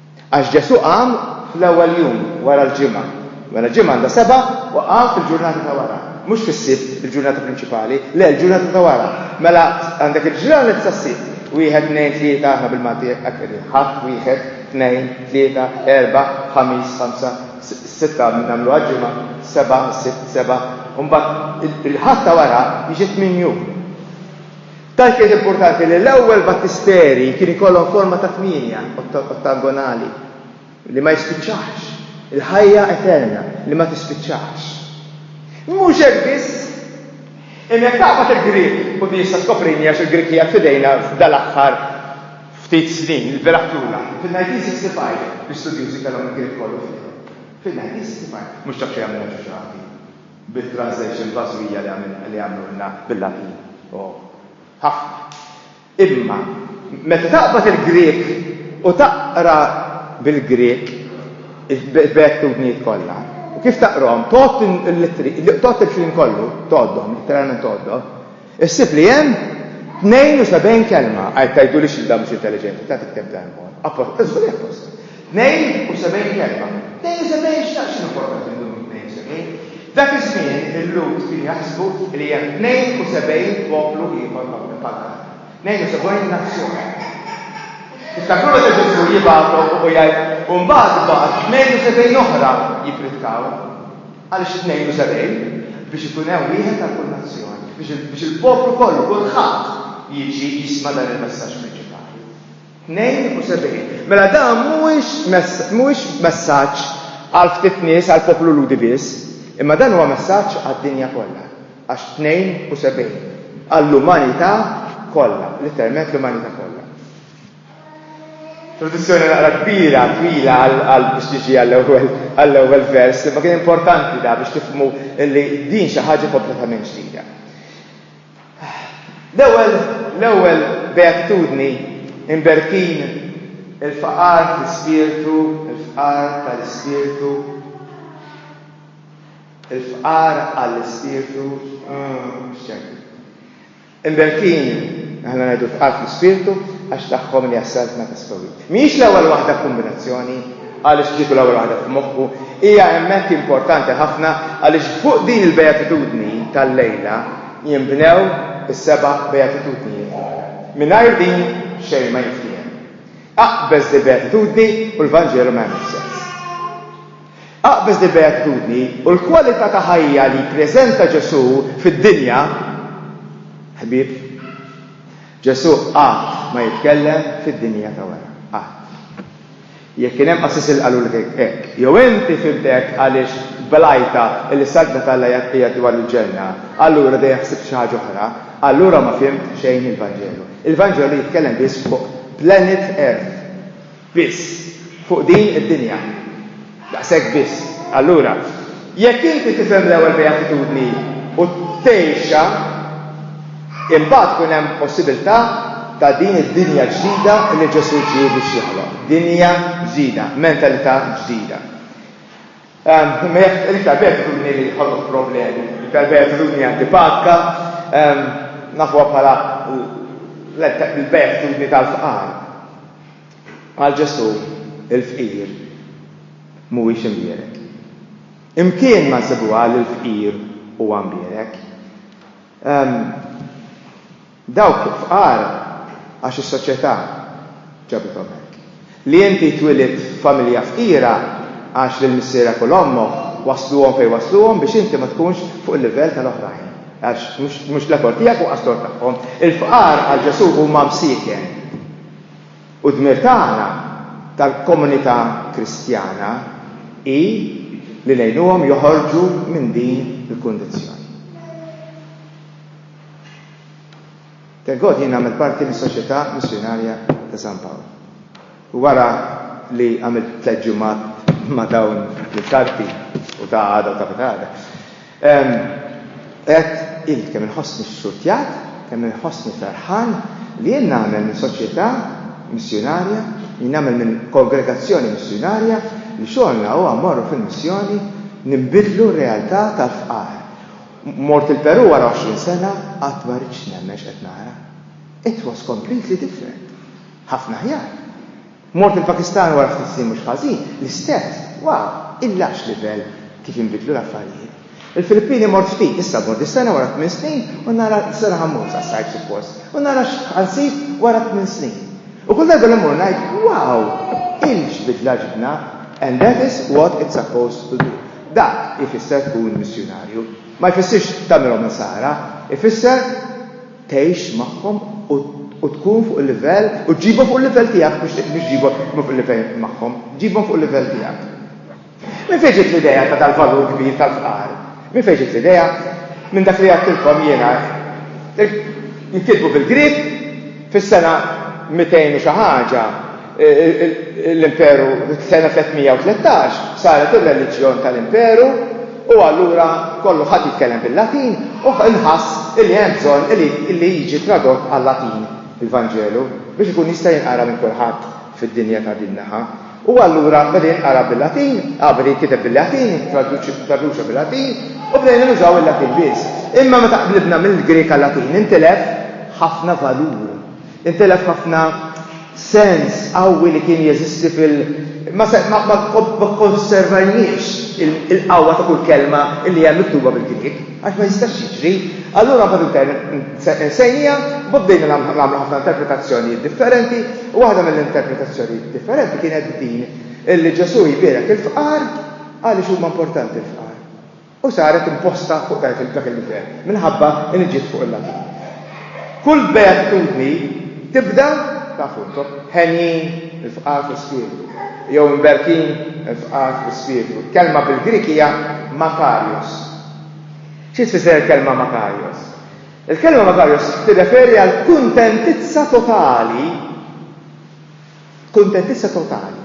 Għax Ġesù qam fl-ewwel jum wara l-ġimgħa. Mela ġimgħa għandha seba' u qam fil-ġurnata ta' wara. Mhux fis-Sibt, il-ġurnata prinċipali. Le, l-ġurnata ta' wara. Mela għandek il-ġranet sas-Sibt. Wieħed, tnejn, tlieta, aħna bil-Malti hekk qegħdin, Ħadd, wieħed, tnejn, tlieta, erbgħa, Ħamis, ħamsa, sitta nagħmluha ġimgħa, seba', Sibt, seba', u mbagħad il-Ħadd ta' wara jiġi tmien jum. Tant kienet importanti li l-ewwel battisteri kien ikollhom forma ta' tmienja ottagonali li ma jispiċċax, il-ħajja eterna li ma tispiċċax. Mhux hekk biss, imma jekk taqbad il-Grieg, u din issa skoprini għax il-Grieg qiegħed f'idejna dal-aħħar ftit snin, il-beraħ tlula, fil-1965 l-istudjużi kellhom il-Grieg kollu f'idejhom. Fil-1965, mhux dak li għamilna Ġuġu Għawdin. bit-translation fażwija li għamlulna bil-Latin, ohh, ħafna. Imma meta taqbad il-Grieg u taqra bil-Grieg il-beatitudnijiet kollha, u kif taqrahom, tgħodd il-littri, tgħodd il-kliem kollu, tgħoddhom, litteralment tgħoddhom, Issib li hemm 72 kelma, għajr tgħidulix li dan mhux intelliġenti, tagħtik temp ta' imħuha. Apposta, żgur li apposta. 72 kelma. 72 x'ta' x'inhu importanti min-numru 72? Dak iż-żmien il-Lhud kienu jaħsbu li hemm 72 poplu ieħor magħmul bħal tagħna. 72 nazzjon. Tiftakru meta Ġesù jibgħathom u jgħid, u mbagħad bagħat 72 oħra jippritkaw. Għaliex tnejn u sebgħin? Biex ikun hemm wieħed għal kull nazzjoni, biex il-poplu kollu, kulħadd, jiġi jisma' dan il-messaġġ prinċipali. Tnejn u sebgħin. Mela dan mhuwiex messaġġ għal ftit nies, għall-poplu Lhudi biss, imma dan huwa messaġġ għad-dinja kollha, għax tnejn u sebgħin, għall-umanità kollha, letteralment l-umanità kollha. Traduzzjoni naqra kbira, twila għall-qalb biex tiġi għall-ewwel vers, imma kien importanti da biex tifhmu li din xi ħaġa kompletament ġdida. L-ewwel l-ewwel beatitudni imberkin il-faqar fl-ispirtu, il-fqar tal-ispirtu, il-fqar għall-ispirtu, mm, x'ċekk. Imberkin, aħna ngħidu tqal fl-ispirtu, għax tagħhom hija s-Saltna ta' Stowit. Mhijiex l-ewwel waħda f'kumbinazzjoni, għaliex kieku l-ewwel waħda f'moħħu, hija hemmhekk importanti ħafna għaliex fuq din il-Bejatitudni tal-lejla jinbnew is-seba' Bejatitudnijiet l-oħra. Mingħajr din xejn ma jintfiehem. Aqbeż dil-Bejatitudni u l-Vanġelu ma jagħmilx sens. Aqbeż il-beatitudni u l-kwalità ta' ħajja li jippreżenta Ġesù fid-dinja, ħbieb. Ġesù qatt ma jitkellem fid-dinja ta' wara. Qatt. Jekk kien hemm qassis li qalulek hekk, jew inti fimt hekk għaliex blajta li s-Saltna t'Alla hija dwar il-Ġenna, allura dejjem ħsibt xi ħaġa oħra, allura ma fimt xejn il-Vanġelu. Il-Vanġelu jitkellem biss fuq planet Earth. biss, fuq din id-dinja. Daqshekk biss. Allura, jekk inti tifhem l-ewwel beatitudni u tgħixha, imbagħad tkun hemm possibiltà ta' din id-dinja ġdida li Ġesù ġie biex joħloq. Dinja ġdida, mentalità ġdida. Imma jaf, l-iktar beatitudni li ħolqot problemi, l-iktar beatitudni antipatika, nafuha bħala l-beatitudni tal-fqar. Għal Ġesù, il-fqir mhuwiex imbierek. Imkien ma nsibuha li l-fqir huwa mbierek. Dawk fqar għax is-soċjetà ġabithom hekk. Li inti twilidt f'familja fqira għax lil missierek u 'l ommok wassluhom fejn wassluhom biex inti ma tkunx fuq il-livell tal-oħrajn, għax mhux l-effort tiegħek u qaslu għat-tagħhom. Il-fqar għal Ġesù huma msieken. U d-dmir tagħna, tal-komunità Kristjana, hi li ngħinuhom joħorġu minn din il-kundizzjoni. Thank God jien nagħmel parti mis-Soċjetà Missjunarja ta' San Pawl. U wara li għamilt tliet ġimgħat ma' dawn il-karti u ta' għada u ta' pitgħada, Għedt, Għidt kemm inħossni xxurtjat, kemm inħossni ferħan li jien nagħmel minn soċjetà missjunarja, li nagħmel minn kongregazzjoni missjunarja li xogħolna huwa mmorru fil-missjoni ninbidlu r-realtà tal-fqar. Mort il-Perù wara għoxrin sena, qatt ma ridtx nemmen x'qed nara. It was completely different. Ħafna aħjar. Mort il-Pakistan wara ftit snin mhux ħażin, l-istess, wow, illa x'livell kif inbidlu l-affarijiet. Il-Filippini mort ftit, issa mmur dis-sena wara tmien snin u nara, dis-sena ħa mmur sas-sajf suppost, u nara x'ħa nsib wara tmien snin. U kull darba li mmur ngħid, wow, ill x'bidla ġibna, and that is what it's supposed to do. Dak ifisser tkun missjunarju. Ma jfissirx tagħmilhom insara, ifisser tgħix magħhom u tkun fuq il-livell u ġġibhom fuq il-livell tiegħek mhux ġġibhom fuq il-livell magħhom, ġġibhom fuq il-livell tiegħek. Minn fejn ġiet l-idea ta' dal-valur kbir tal-fqar? Minn fejn ġiet l-idea? Minn dak li għedtilkom jiena. Jinkitbu bil-Grieg fis-sena 200 u xi ħaġa, l-Imperu fis-sena 313 saret ir-reliġjon tal-Imperu u allura kollu ħadd jitkellem bil-Latin u nħass li hemm bżonn li jiġi tradott għal-Latin il-Vanġelu biex ikun jista' jinqara minn kulħadd fid-dinja ta' din naħa. U allura beda jinqara bil-Latin, ah beda jitkiteb bil-Latin, traduċa bil-Latin u bdejna nużaw il-Latin biss. Imma meta qlibna mill-Grieg għal-Latin intilef ħafna valur, intilef ħafna sens qawwi li kien jeżisti fil ma kkonservajniex il-qawwa ta' kull kelma li hemm miktuba bil-Grieg, għax ma jistax jiġri. Allura mbagħad insejnija, mbagħad bdejna nagħmlu ħafna interpretazzjonijiet differenti, u waħda mill-interpretazzjonijiet differenti kienet din li Ġesù jbierek il-fqar għaliex huma importanti l-fqar. u saret imposta fuq dak il-gvern minħabba li ġiet fuq il-Latin. Kull beatitudni tibda, tafu intom, henjin, il-fqar fl-ispirtu, jew imberkin, il-fqar fl-ispirtu. Kelma bil-Grieg hija makarios. Xi tfisser il-kelma makarios? Il-kelma makarios tirreferi għal kuntentizza totali, kuntentizza totali.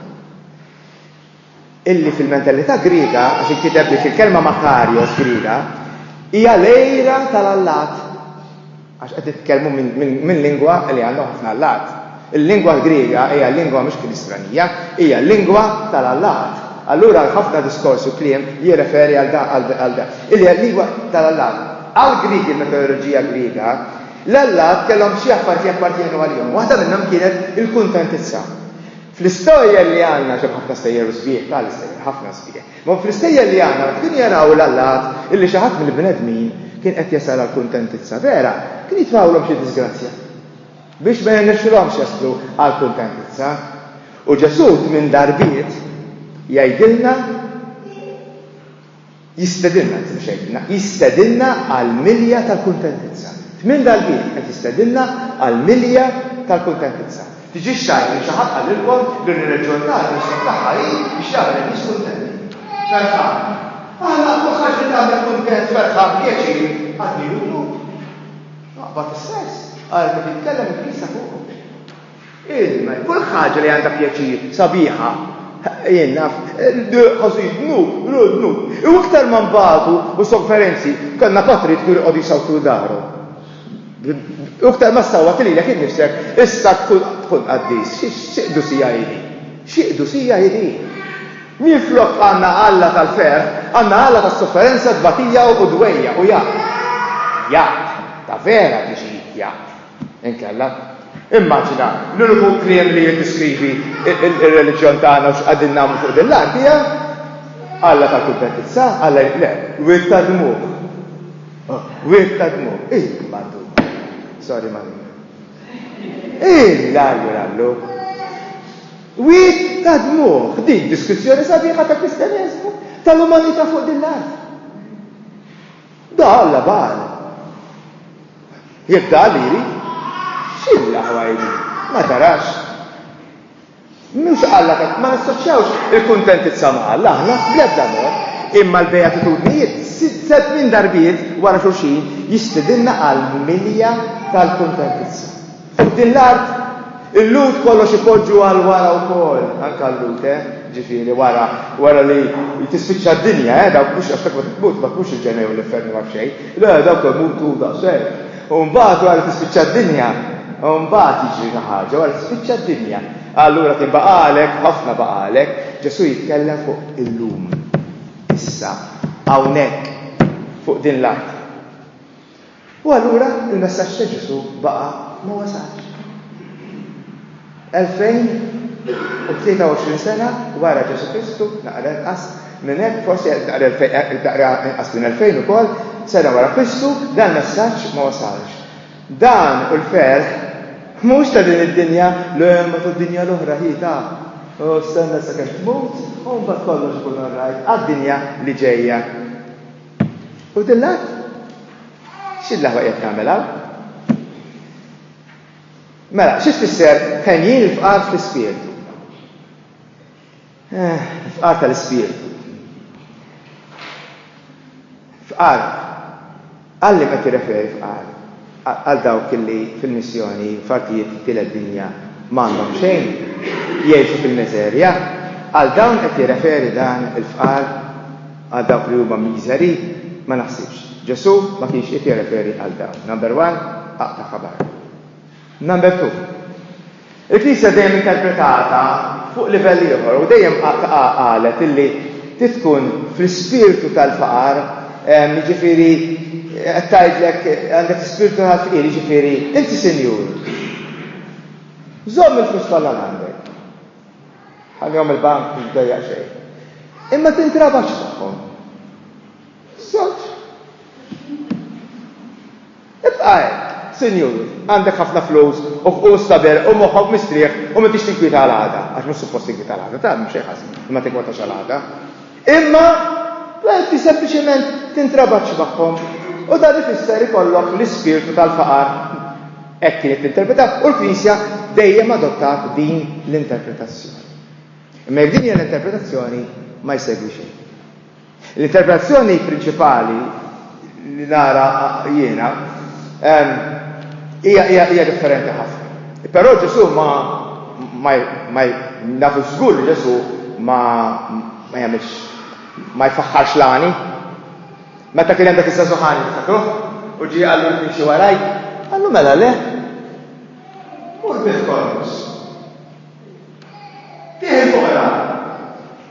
illi fil-mentalità Griega, għax inkiteb li fil-kelma makarios Griega, hija l-għira tal-allat. Għax qed nitkellmu minn lingwa li għandhom ħafna allat. Il-lingwa Griega hija lingwa mhux Kristanija, hija lingwa tal-allat. Allura ħafna diskors u kliem jirreferi għal dan. Illi hija lingwa tal-allat. Għall-Griegi, il-metodoloġija Griega, l-allat kellhom xi affarijiet jappartjenu għalihom. Waħda minnhom kienet il-kuntentizza. Fl-istejjer li għandna, għax hemm ħafna stejjer u sbieħ, ta' l-istejjer, ħafna sbieħ, imma fl-istejjer li għandna meta kienu jaraw l-allat illi xi ħadd mill-bnedmin kien qed jasal għall-kuntentizza vera, kien jitfgħulhom xi diżgrazzja biex ma jirnexxilhomx jaslu għall-kuntentizza. U Ġesù tmien darbiet jgħidilna, Jistedinna, anzi mhux jgħidilna, jistedinna għall-milja tal-kuntentizza. Tmien darbiet qed jistedinna għall-milja tal-kuntentizza. Tiġix tgħid li xi ħadd qalilkom li r-reliġjon tagħna l-isem tagħha hi biex jagħmel in-nies kuntenti. Ferħan. Aħna kull ħaġa li tagħmel kuntent, ferħan, pjaċir, għad-dnub hu dnub. Naqbad is-sens, għalhekk qed jitkellem il-Knisja fuqhom. Ilm, kull ħaġa li għandha pjaċir, sabiħa. Jien naf, ħossu jdnub, ru dnub. U iktar ma nbatu u sofferenzi, konna patrijiet kienu jqogħdu jsawtu daru. U iktar ma ssawwat lilek innifsek, issa tkun qaddis. Xi qdusija hi din? Xi qdusija hi din? Minflok għandna Alla tal-ferħ, għandna Alla tas-sofferenza, tbatija u dwejjaq u jaqt. Jaqt, ta' vera tiġi jaqt. Inkella, immaġina, l-uniku kliem li jiddiskrivi r-reliġjon tagħna u x'qegħdin nagħmlu fuq din l-art hija Alla ta' kuntentizza, Alla le, wied ta' dmugħ. Oh, wied ta' dmugħ, il-madu. Sorry, ma' Illa għallu. Wied ta' dmugħ, dik diskrizzjoni sabiħa ta' kristjaneżmu, tal-umanità fuq din l-art. Da Alla Baal. Jekk da Alla jrid, x'inhi l-aħwa hi din? Ma tarax? Mhux Alla ta' ma nassoċjawx il-kuntentizza ma' Alla aħna bl-ebda mod. Imma l-Bejatitudnijiet sitt minn darbiet wara xulxin jistidinna għal milja tal-kuntentizza. Fuq din l-art, il-Lhud kollox ipoġġu għal wara wkoll, anke l-Lhud, eh, ġifieri wara, wara li tispiċċa d-dinja, eh, dawk mhux għax dak meta tmut ma tkunx il-ġenna jew l-infern jew ma nafx xejn, le, dawk imutu daqshekk. U mbagħad wara li tispiċċa d-dinja, u mbagħad jiġri xi ħaġa, wara li tispiċċa d-dinja, allura kien baqagħlek, ħafna baqagħlek, Ġesù jitkellem fuq illum, issa, hawnhekk, fuq din l-art. U allura il-messaġġ ta' Ġesù baqa' ma wasalx. 2023 sena wara Ġesù Kristu, naqra inqas minn hekk, forsi naqra inqas minn 2000 ukoll, sena wara Kristu, dan il-messaġġ ma wasalx. Dan hu l-ferħ mhux ta' din id-dinja, le ma tad-dinja l-oħra hi ta' u stenna sakemm tmut u mbagħad kollox ikun all right għad-dinja li ġejja. U din l-art? X'din l-aħwa qiegħed tagħmel hawn? Mela, xi tfisser ħenjin il-fqar fl-ispirtu? Eh, fqar tal-ispirtu. Fqar. Għalli qed tirreferi fqar. għal dawk li fil-missjoni f'artijiet it-tielet dinja ma għandhom xejn, jgħixu fil-miżerja, għal dawn qed jirreferi dan il-fqar, għal dawk li huma miżeri? Ma naħsibx. Ġesù ma kienx qiegħed jirreferi għal dawn. Number one, aqta' ħabar. Number two. Il-Knisja dejjem interpretata fuq livell ieħor u dejjem qalet illi trid tkun fl-ispirtu tal-faqar, jiġifieri qed tgħidlek għandek l-ispirtu tal-fqir, jiġifieri inti sinjur, żomm il-flus kollha għandek, ħallihom il-bank mhux dejjaq xejn, imma tintrabax magħhom. Żewġ. Ibqa' hekk, sinjur, għandek ħafna flus u stader u moħħok mistrieħ u m'intix tinkwieta għal għada, għax mhux suppost tinkwieta għal għada, tagħmel xejn ħażin li ma tinkwetax għal għada. Imma inti sempliċement tintrabaċċ magħhom u dan ifisser ikollok l-ispirtu tal-faqar, hekk kienet tinterpreta, u l-Knisja dejjem adottat din l-interpretazzjoni. Imma jekk din hija l-interpretazzjoni ma jsegwi xejn. L-interpretazzjoni prinċipali li nara jiena hija differenti ħafna. Però Ġesù ma ma nafu żgur li Ġesù ma ma jagħmilx ma jfaħħarx l-għani. Meta kien hemm dak iż-żagħżugħani tiftakruh u ġie qallu li timxi waraj, qallu mela le. Mur bih kollox. Tieħ il-fuqra.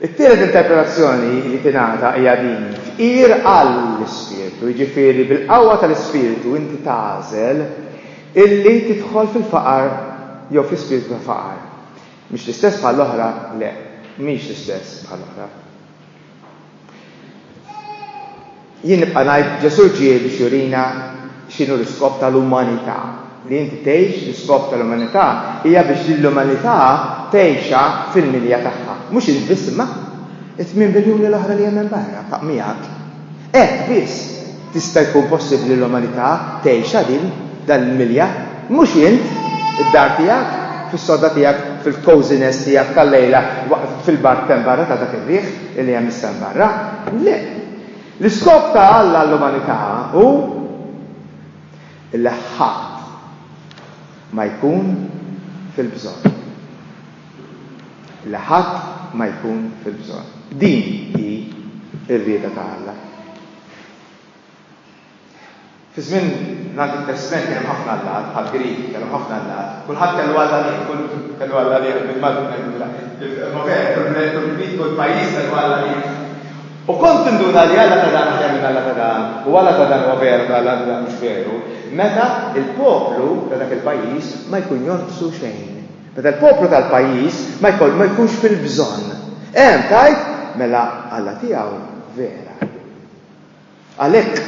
It-tielet interpretazzjoni li tingħata hija din, Tqir għall-Ispirtu, jiġifieri bil-qawwa tal-Ispirtu inti tagħżel illi tidħol fil-faqar jew fi spirtu ta' faqar. Mhix l-istess bħall-oħra? Le, mhix l-istess bħall-oħra. Jien nibqa' ngħid Ġesù ġie biex jurina x'inhu l-iskop tal-umanità. Li inti tgħix l-iskop tal-umanità hija biex din l-umanità tgħixha fil-milja tagħha. Mhux int biss imma t-tmien biljuni l-oħra li hemm hemm barra, miegħek. Hekk biss tista' jkun possibbli l-umanità tgħixha din, dan il-milja. Mhux int, id-dar tiegħek, fis-sodda tiegħek, fil-cozy nest tiegħek tal-lejla fil-bark t'hemm barra ta' dak ir-riħ li hemm issa hemm barra. Le! L-iskop ta' Alla għall-umanità hu li ħadd ma jkun fil-bżonn. Li ħadd ma jkun fil-bżonn. Din hi r-rieda ta' Alla. Fi żmien l-Antik Testment kien hemm ħafna allat, bħall-Griegi kellhom ħafna allat, kulħadd kellu alla liegħu, kull kellu alla liegħu, bil-Malti ngħidulha il-Movera, kull bnedmin, kull bniedem, kull pajjiż kellu alla liegħu. U kont tinduna li alla ta' dan aħjar minn alla ta' dan, u alla ta' dan huwa veru ta' alla ta' dan mhux veru, meta l-poplu ta' dak il-pajjiż ma jkun jonqsu xejn. Meta l-poplu tal-pajjiż ma jkollu, ma jkunx fil-bżonn. Hemm tgħid, mela alla tiegħu vera. Għalhekk,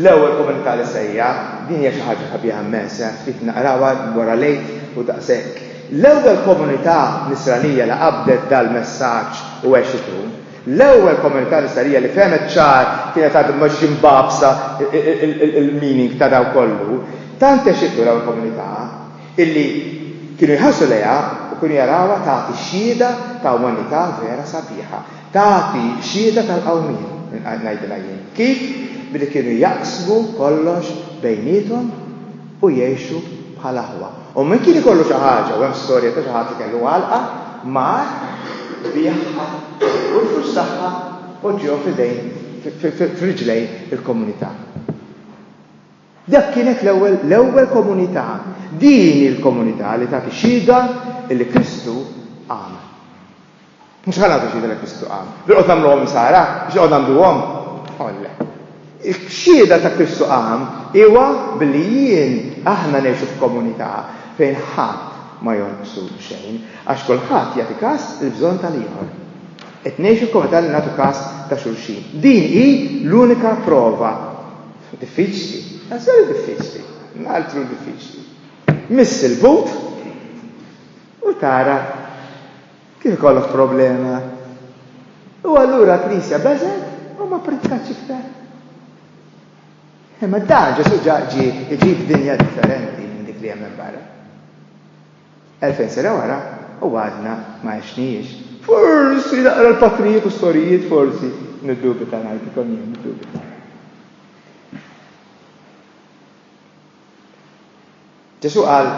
l-ewwel komunità li sejjaħ, din hija xi ħaġa sabiħa immens, eh, ftit naqrawha wara l-Għid u daqshekk. L-ewwel komunità Nisranija li qabdet dal-messaġġ u għexitu. L-ewwel komunità Nisranija li fehmet ċar kienet għad mhix mbagħbsa l-meaning ta' dan kollu. Tant għexitu l-ewwel komunità, illi kienu jħarsu lejha u kienu jarawha tagħti xhieda ta' umanità vera sabiħa. Tagħti xhieda tal-qawmien, ngħidilha jien. Kif? Billi kienu jaqsmu kollox bejniethom u jgħixu bħal aħwa. U min kien ikollu xi ħaġa, u hemm storja ta' xi ħadd li kellu għalqa, mar, biegħha, u l-flus tagħha poġġiehom f'idejn, f'riġlejn il-komunità. Dak kienet l-ewwel, l-ewwel komunità. Din hi l-komunità li tagħti xhieda li Kristu qam. Mhux ħa nagħtu xhieda li Kristu qam. Bilqgħod nagħmluhom Insara? Biex noqgħod ngħanduhom? Olle. X-xhieda ta' Kristu qam huwa billi jien, aħna ngħixu f'komunità fejn ħadd ma jonqsu xejn, għax kulħadd jagħti kas il-bżonn tal-ieħor. Qed ngħixu f'komunità li nagħtu kas ta' xulxin. Din hi l-unika prova Diffiċli, għażel diffiċli, altru diffiċli. Miss il-but u tara kif ikollok problema. U allura l-Knisja beżet u ma pritkatx iktar. Imma dan Ġesu ġaġi iġib dinja differenti minn dik li hemm barra. Elfejn sena wara u għadna ma għexnihiex. Forsi naqra l-patrijiet u s-sorijiet, forsi, niddubita ngħidilkom jien, niddubita. Ġesù qal,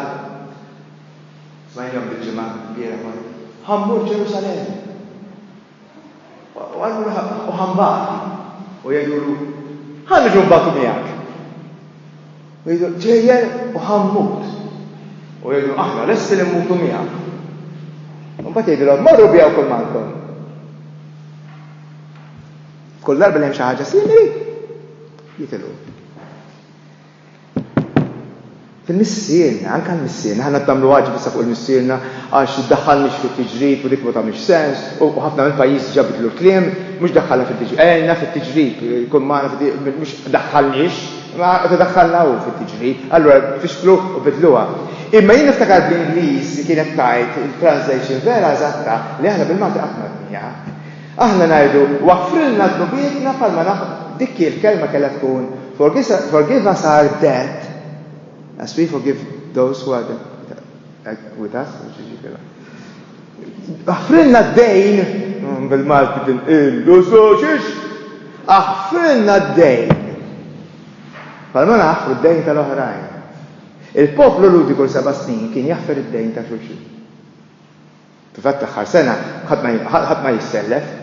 smajnihom dil-ġimgħa, l-bieraħ, Ħa mmur Ġerusalemm. U allura ħaqqu ħambati u jgħidulu, Ħa niġu nbatu miegħek. U jgħidu, Ġejjer u ħammut. U jgħidu, Aħna lesti li mmutu miegħek. U mbagħad jgħidilhom, Morru biegħu kull mantom. Kull darba li hemm xi ħaġa simili, jitilgħu. Il-missierna, anke għall-missierna, aħna qed nagħmlu għaġeb issa fuq il-missierna għax ddaħħalniex fit-tiġrib u dik ma tagħmilx sens u ħafna mill-pajjiżi diġà biddlu l-kliem, mhux ddaħħalna fit-tiġrib, għelna fit-tiġrib, kun magħna fit-tiġrib, mhux ddaħħalniex, imma qed idaħħalna hu fit-tiġrib, allura fixklu u biddluha. Imma jien niftakar bl-Ingliż li kienet tgħid il-translation vera eżatta li aħna bil-Malti qatt m'għedniha. Aħna ngħidu, waffrilna dnubietna bħalma naħ-. Dik hi l-kelma kellha tkun, Forgive us our debt as we forgive those who are with us, mhux jiġi kif. Aħfrilna d-dejn, bil-Malti tinqillu soċix, aħfrilna d-dejn. Bħalma naħfru d-dejn tal-oħrajn. Il-poplu Lhudi kull seba' snin kien jaħfer id-dejn ta' xulxin. Fil-fatt l-aħħar sena ħadd ma jissellef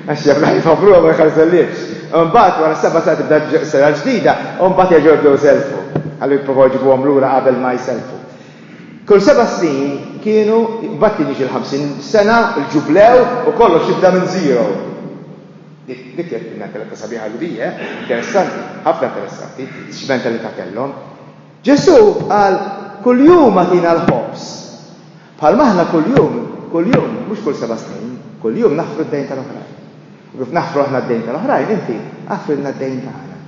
għax jaf li ħajfabbruha u ma jħarsellifx. Imbagħad wara s-seba' sena tibda s-sena l-ġdida u mbagħad jerġgħu jibdew iselfu. Qalu jipprovaw jġibuhom lura qabel ma jselfu. Kull seba' snin kienu, mbagħad kien jiġi l-ħamsin sena, il-ġublew u kollox jibda minn zero. Dik kienet mintalità sabiħa Lhudija, eh? Interessanti, ħafna interessanti, x'mentalità kellhom. Ġesù qal, Kuljum agħtina l-ħobż. Bħal m'aħna kuljum, kuljum, mhux kull seba' snin, kuljum naħfru d-dejn tal-oħrajn. U kif naħfru aħna d-dejn tal-oħrajn, inti aħfrilna d-dejn tagħna.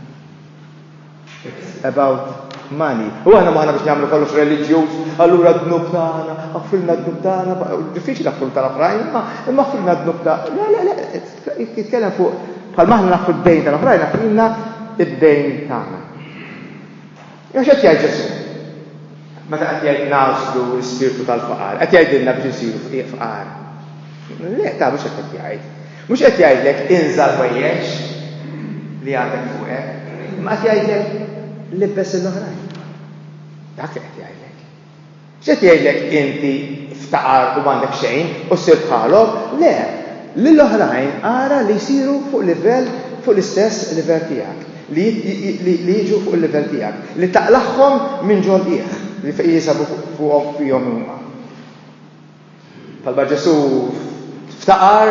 It's about money. U aħna m'aħna biex nagħmlu kollox reliġjuż, allura d-dnub tagħna, aħfrilna d-dnub tagħna, diffiċli naħfru tal-oħrajn, imma aħfrilna d-dnub tagħna. Le, le, le, jitkellem fuq bħal m'aħna naħfru d-dejn tal-oħrajn, aħfrilna d-dejn tagħna. Jew x'qed jgħid Ġesù? Meta qed jgħid nagħżlu l-ispirtu tal-faqar, qed jgħidilna biex insiru fqiegħ fqar. Le, ta' mhux qed jgħid. Mhux qed jgħidlek inżal ħwejjeġ li għandek fuqek, ma qed jgħidlek libbes il-oħrajn. Dak li qed jgħidlek. X'qed jgħidlek inti ftaqar u m'għandek xejn u ssir bħalhom? Le! Lil oħrajn ara li jsiru fuq livell fuq l-istess livell tiegħek, li li jiġu fuq il-livell tiegħek, li taqlagħhom minn ġol qiegħ li jinsabu fuqhom fihom huma. Talba Ġesù ftaqar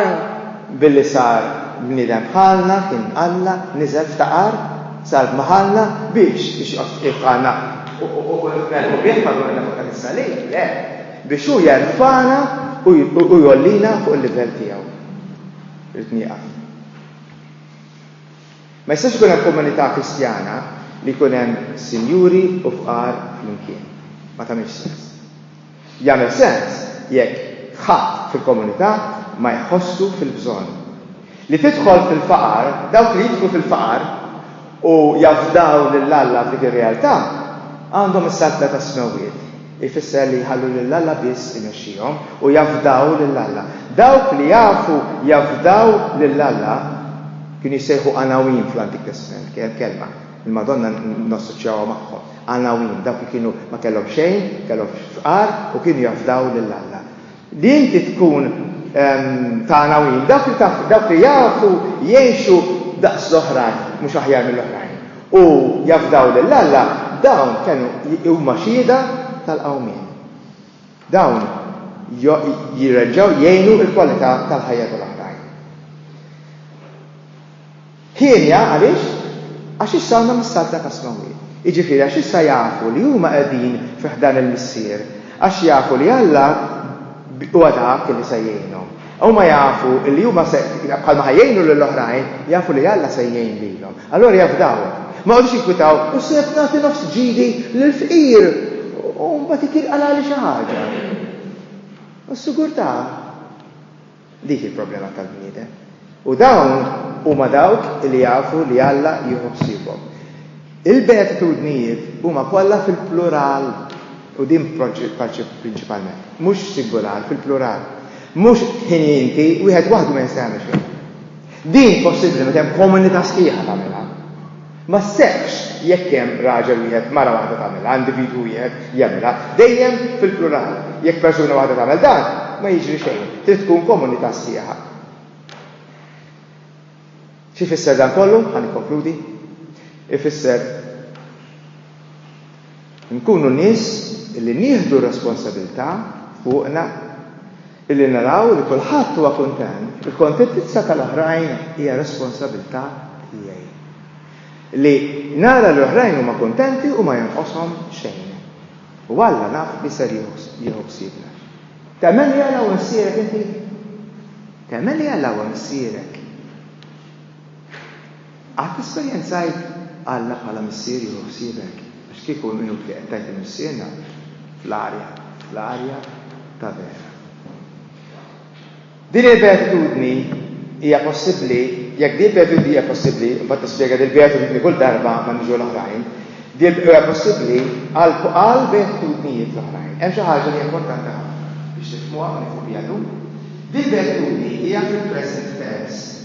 billi sar bniedem bħalna, kien Alla, niżel, ftaqar, sar bħalna biex, biex joqgħod qiegħed bħalna u nifrħu bih madwarna fuq dan is-salib? Le, biex hu jerfagħna u jgħollina fuq il-livell tiegħu. Rrid nieqaf. Ma jistax ikun hemm komunità Kristjana li jkun hemm sinjuri u fqar flimkien. Ma tagħmilx sens. Jagħmel sens jekk ħadd fil-komunità ma jħossu fil-bżonn. Li tidħol fil-faqar, dawk li jidħlu fil-faqar u jafdaw lil Alla f'dik ir-realtà, għandhom is-saltna tas-smewwiet. Ifisser li jħallu lil Alla biss imexxihom u jafdaw lil Alla. Dawk li jafu jafdaw lil Alla kienu jissejħu Għanawin fl-Antik Testment, kelma li l-Madonna nassoċjawha magħhom. Għanawin, dawk li kienu ma kellhom xejn, kellhom fqar u kienu jafdaw lil Alla. Li inti tkun ta' għanawin, dawk li jafu jgħixu daqs l-oħrajn, mhux aħjar mill-oħrajn, u jafdaw lil Alla, dawn kienu huma xhieda tal-qawmien. Dawn jirreġgħu jgħinu l-kwalità tal-ħajja tal-oħrajn. Hienja għaliex? Għax issa huma mis-Saltna tas-Smewwiet. Jiġifieri għax issa jafu li huma qegħdin fi ħdan il-Missier, għax jafu li Alla huwa dak li se jgħinhom. Huma jafu li huma se, bħalma ħa jgħinu lil oħrajn, jafu li Alla se jgħin lilhom. Allura jafdaw. Ma jqogħdux jinkwitaw, U se nagħti nofs ġidi lill-fqir u mbagħad itirqalali xi ħaġa? U s-sigurtà? Dik hi l-problema tal-bniedem. U dawn huma dawk li jafu li Alla jieħu ħsiebhom. Il-beatitudnijiet huma kollha fil-plural, u din prinċipalment, mhux singular, fil-plural. Mhux ħini inti, wieħed waħdu ma jista' jagħmel xejn. Din possibbli meta hemm komunità sħiħa tagħmilha. Ma sseħħx jekk hemm raġel wieħed, mara waħda tagħmilha, individwu wieħed jagħmilha, dejjem fil-plural. Jekk persuna waħda tagħmel dan, ma jiġri xejn. Trid tkun komunità sħiħa. Xi jfisser dan kollu? Ħa nikkonkludi. Ifisser Inkunu nies li nieħdu r-responsabilità fuqna li naraw li kulħadd huwa kuntent. Il-kontentizza tal-oħrajn hija responsabilità tiegħi. Li nara li l-oħrajn huma kuntenti u ma jonqoshom xejn. U Alla naf li ser jieħu ħsiebna. Temmen li Alla huwa Missierek inti? Temmen li Alla huwa Missierek? Qatt esperjenzajt Alla bħala Missier jieħu ħsiebek? Għax kieku hemm qinut li qed tgħid li Missierna fl-arja, fl-arja ta' vera. Din il-beatitudni hija possibbli, jekk din il-beatitudni hija possibbli, imbagħad nispjega din il-beatitudni kull darba ma niġu l-oħrajn, din hija possibbli għal għal beatitudnijiet l-oħrajn. Hemm xi ħaġa li hija importanti ħafna biex nifhmuha u nieħdu biha llum. Din il-beatitudni hija fil-present tense.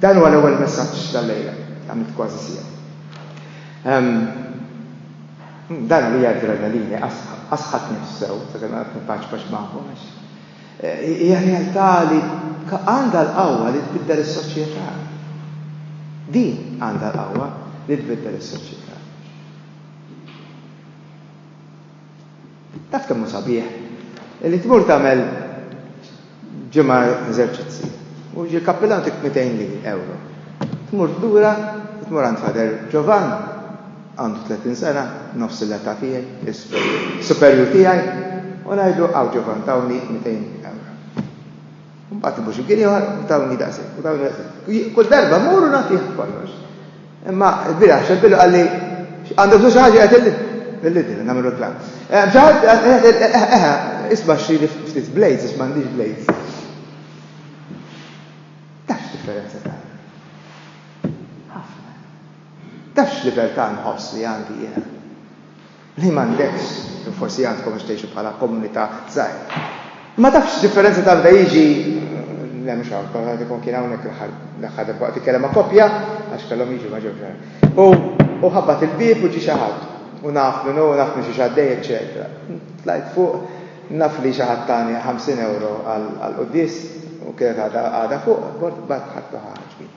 Dan huwa l-ewwel messaġġ tal-lejla. Għamilt kważi siegħa. Ehm, dan għalija adrenalini, asħat nifs sew, sakemm qed nippaċpaċ magħkom għax. Eh, hija realtà li għandha l-qawwa li tbiddel is-soċjetà. Din għandha l-qawwa li tbiddel is-soċjetà. Taf kemm hu sabiħ li tmur tagħmel ġimgħa eżerċizzi u jiġi l-kappillan jtik 200 li ewro. Tmur lura u tmur għand Father Giovan, għandu 30 sena, nofs l-età tiegħi, is-superjur tiegħi, u ngħidlu hawn Giovan tawni 200 ewro. Mbagħad imur xi mkien ieħor u tawni daqshekk u tawni daqshekk. Kull darba mmur u nagħtih kollox. Imma l-bieraħ xebbilu qal li għandu bżonn xi ħaġa qed il-lidin nagħmel reklam. Xi ħadd eħe isma' xi ftit blades għax m'għandix blades. Taf x'differenza ta' ħafna. Taf x'libertà nħoss li għandi jiena. li m'għandekx, jew forsi għandkom għax tgħixu bħala komunità żgħira. Ma tafx x'differenza ta' bda jiġi le mhux hawn, kont qed ikun kien hawnhekk l-aħħar l-aħħar darba waqt ikellem ma' koppja għax kellhom jiġu ma ġewx. U u ħabbat il-bieb u ġie xi ħadd u naf minn hu, naf minn xi xaddej, eċċetera. Tlajt fuq, naf li xi ħadd tani 50 euro għall-quddies u kienet għadha fuq, bort bat ħadd ħaġbi.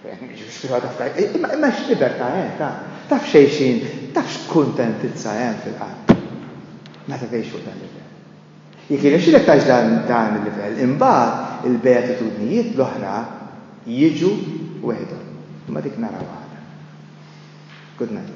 Imma x'libertà hemm ta' taf xejxin, taf x'kuntentizza hemm fil-qalb meta tgħix fuq dan il-livell. Jekk jirnexxilek tgħix dan il-livell, imbagħad il-beatitudnijiet l-oħra jiġu weħidhom. Imma dik narawha għada. Good night.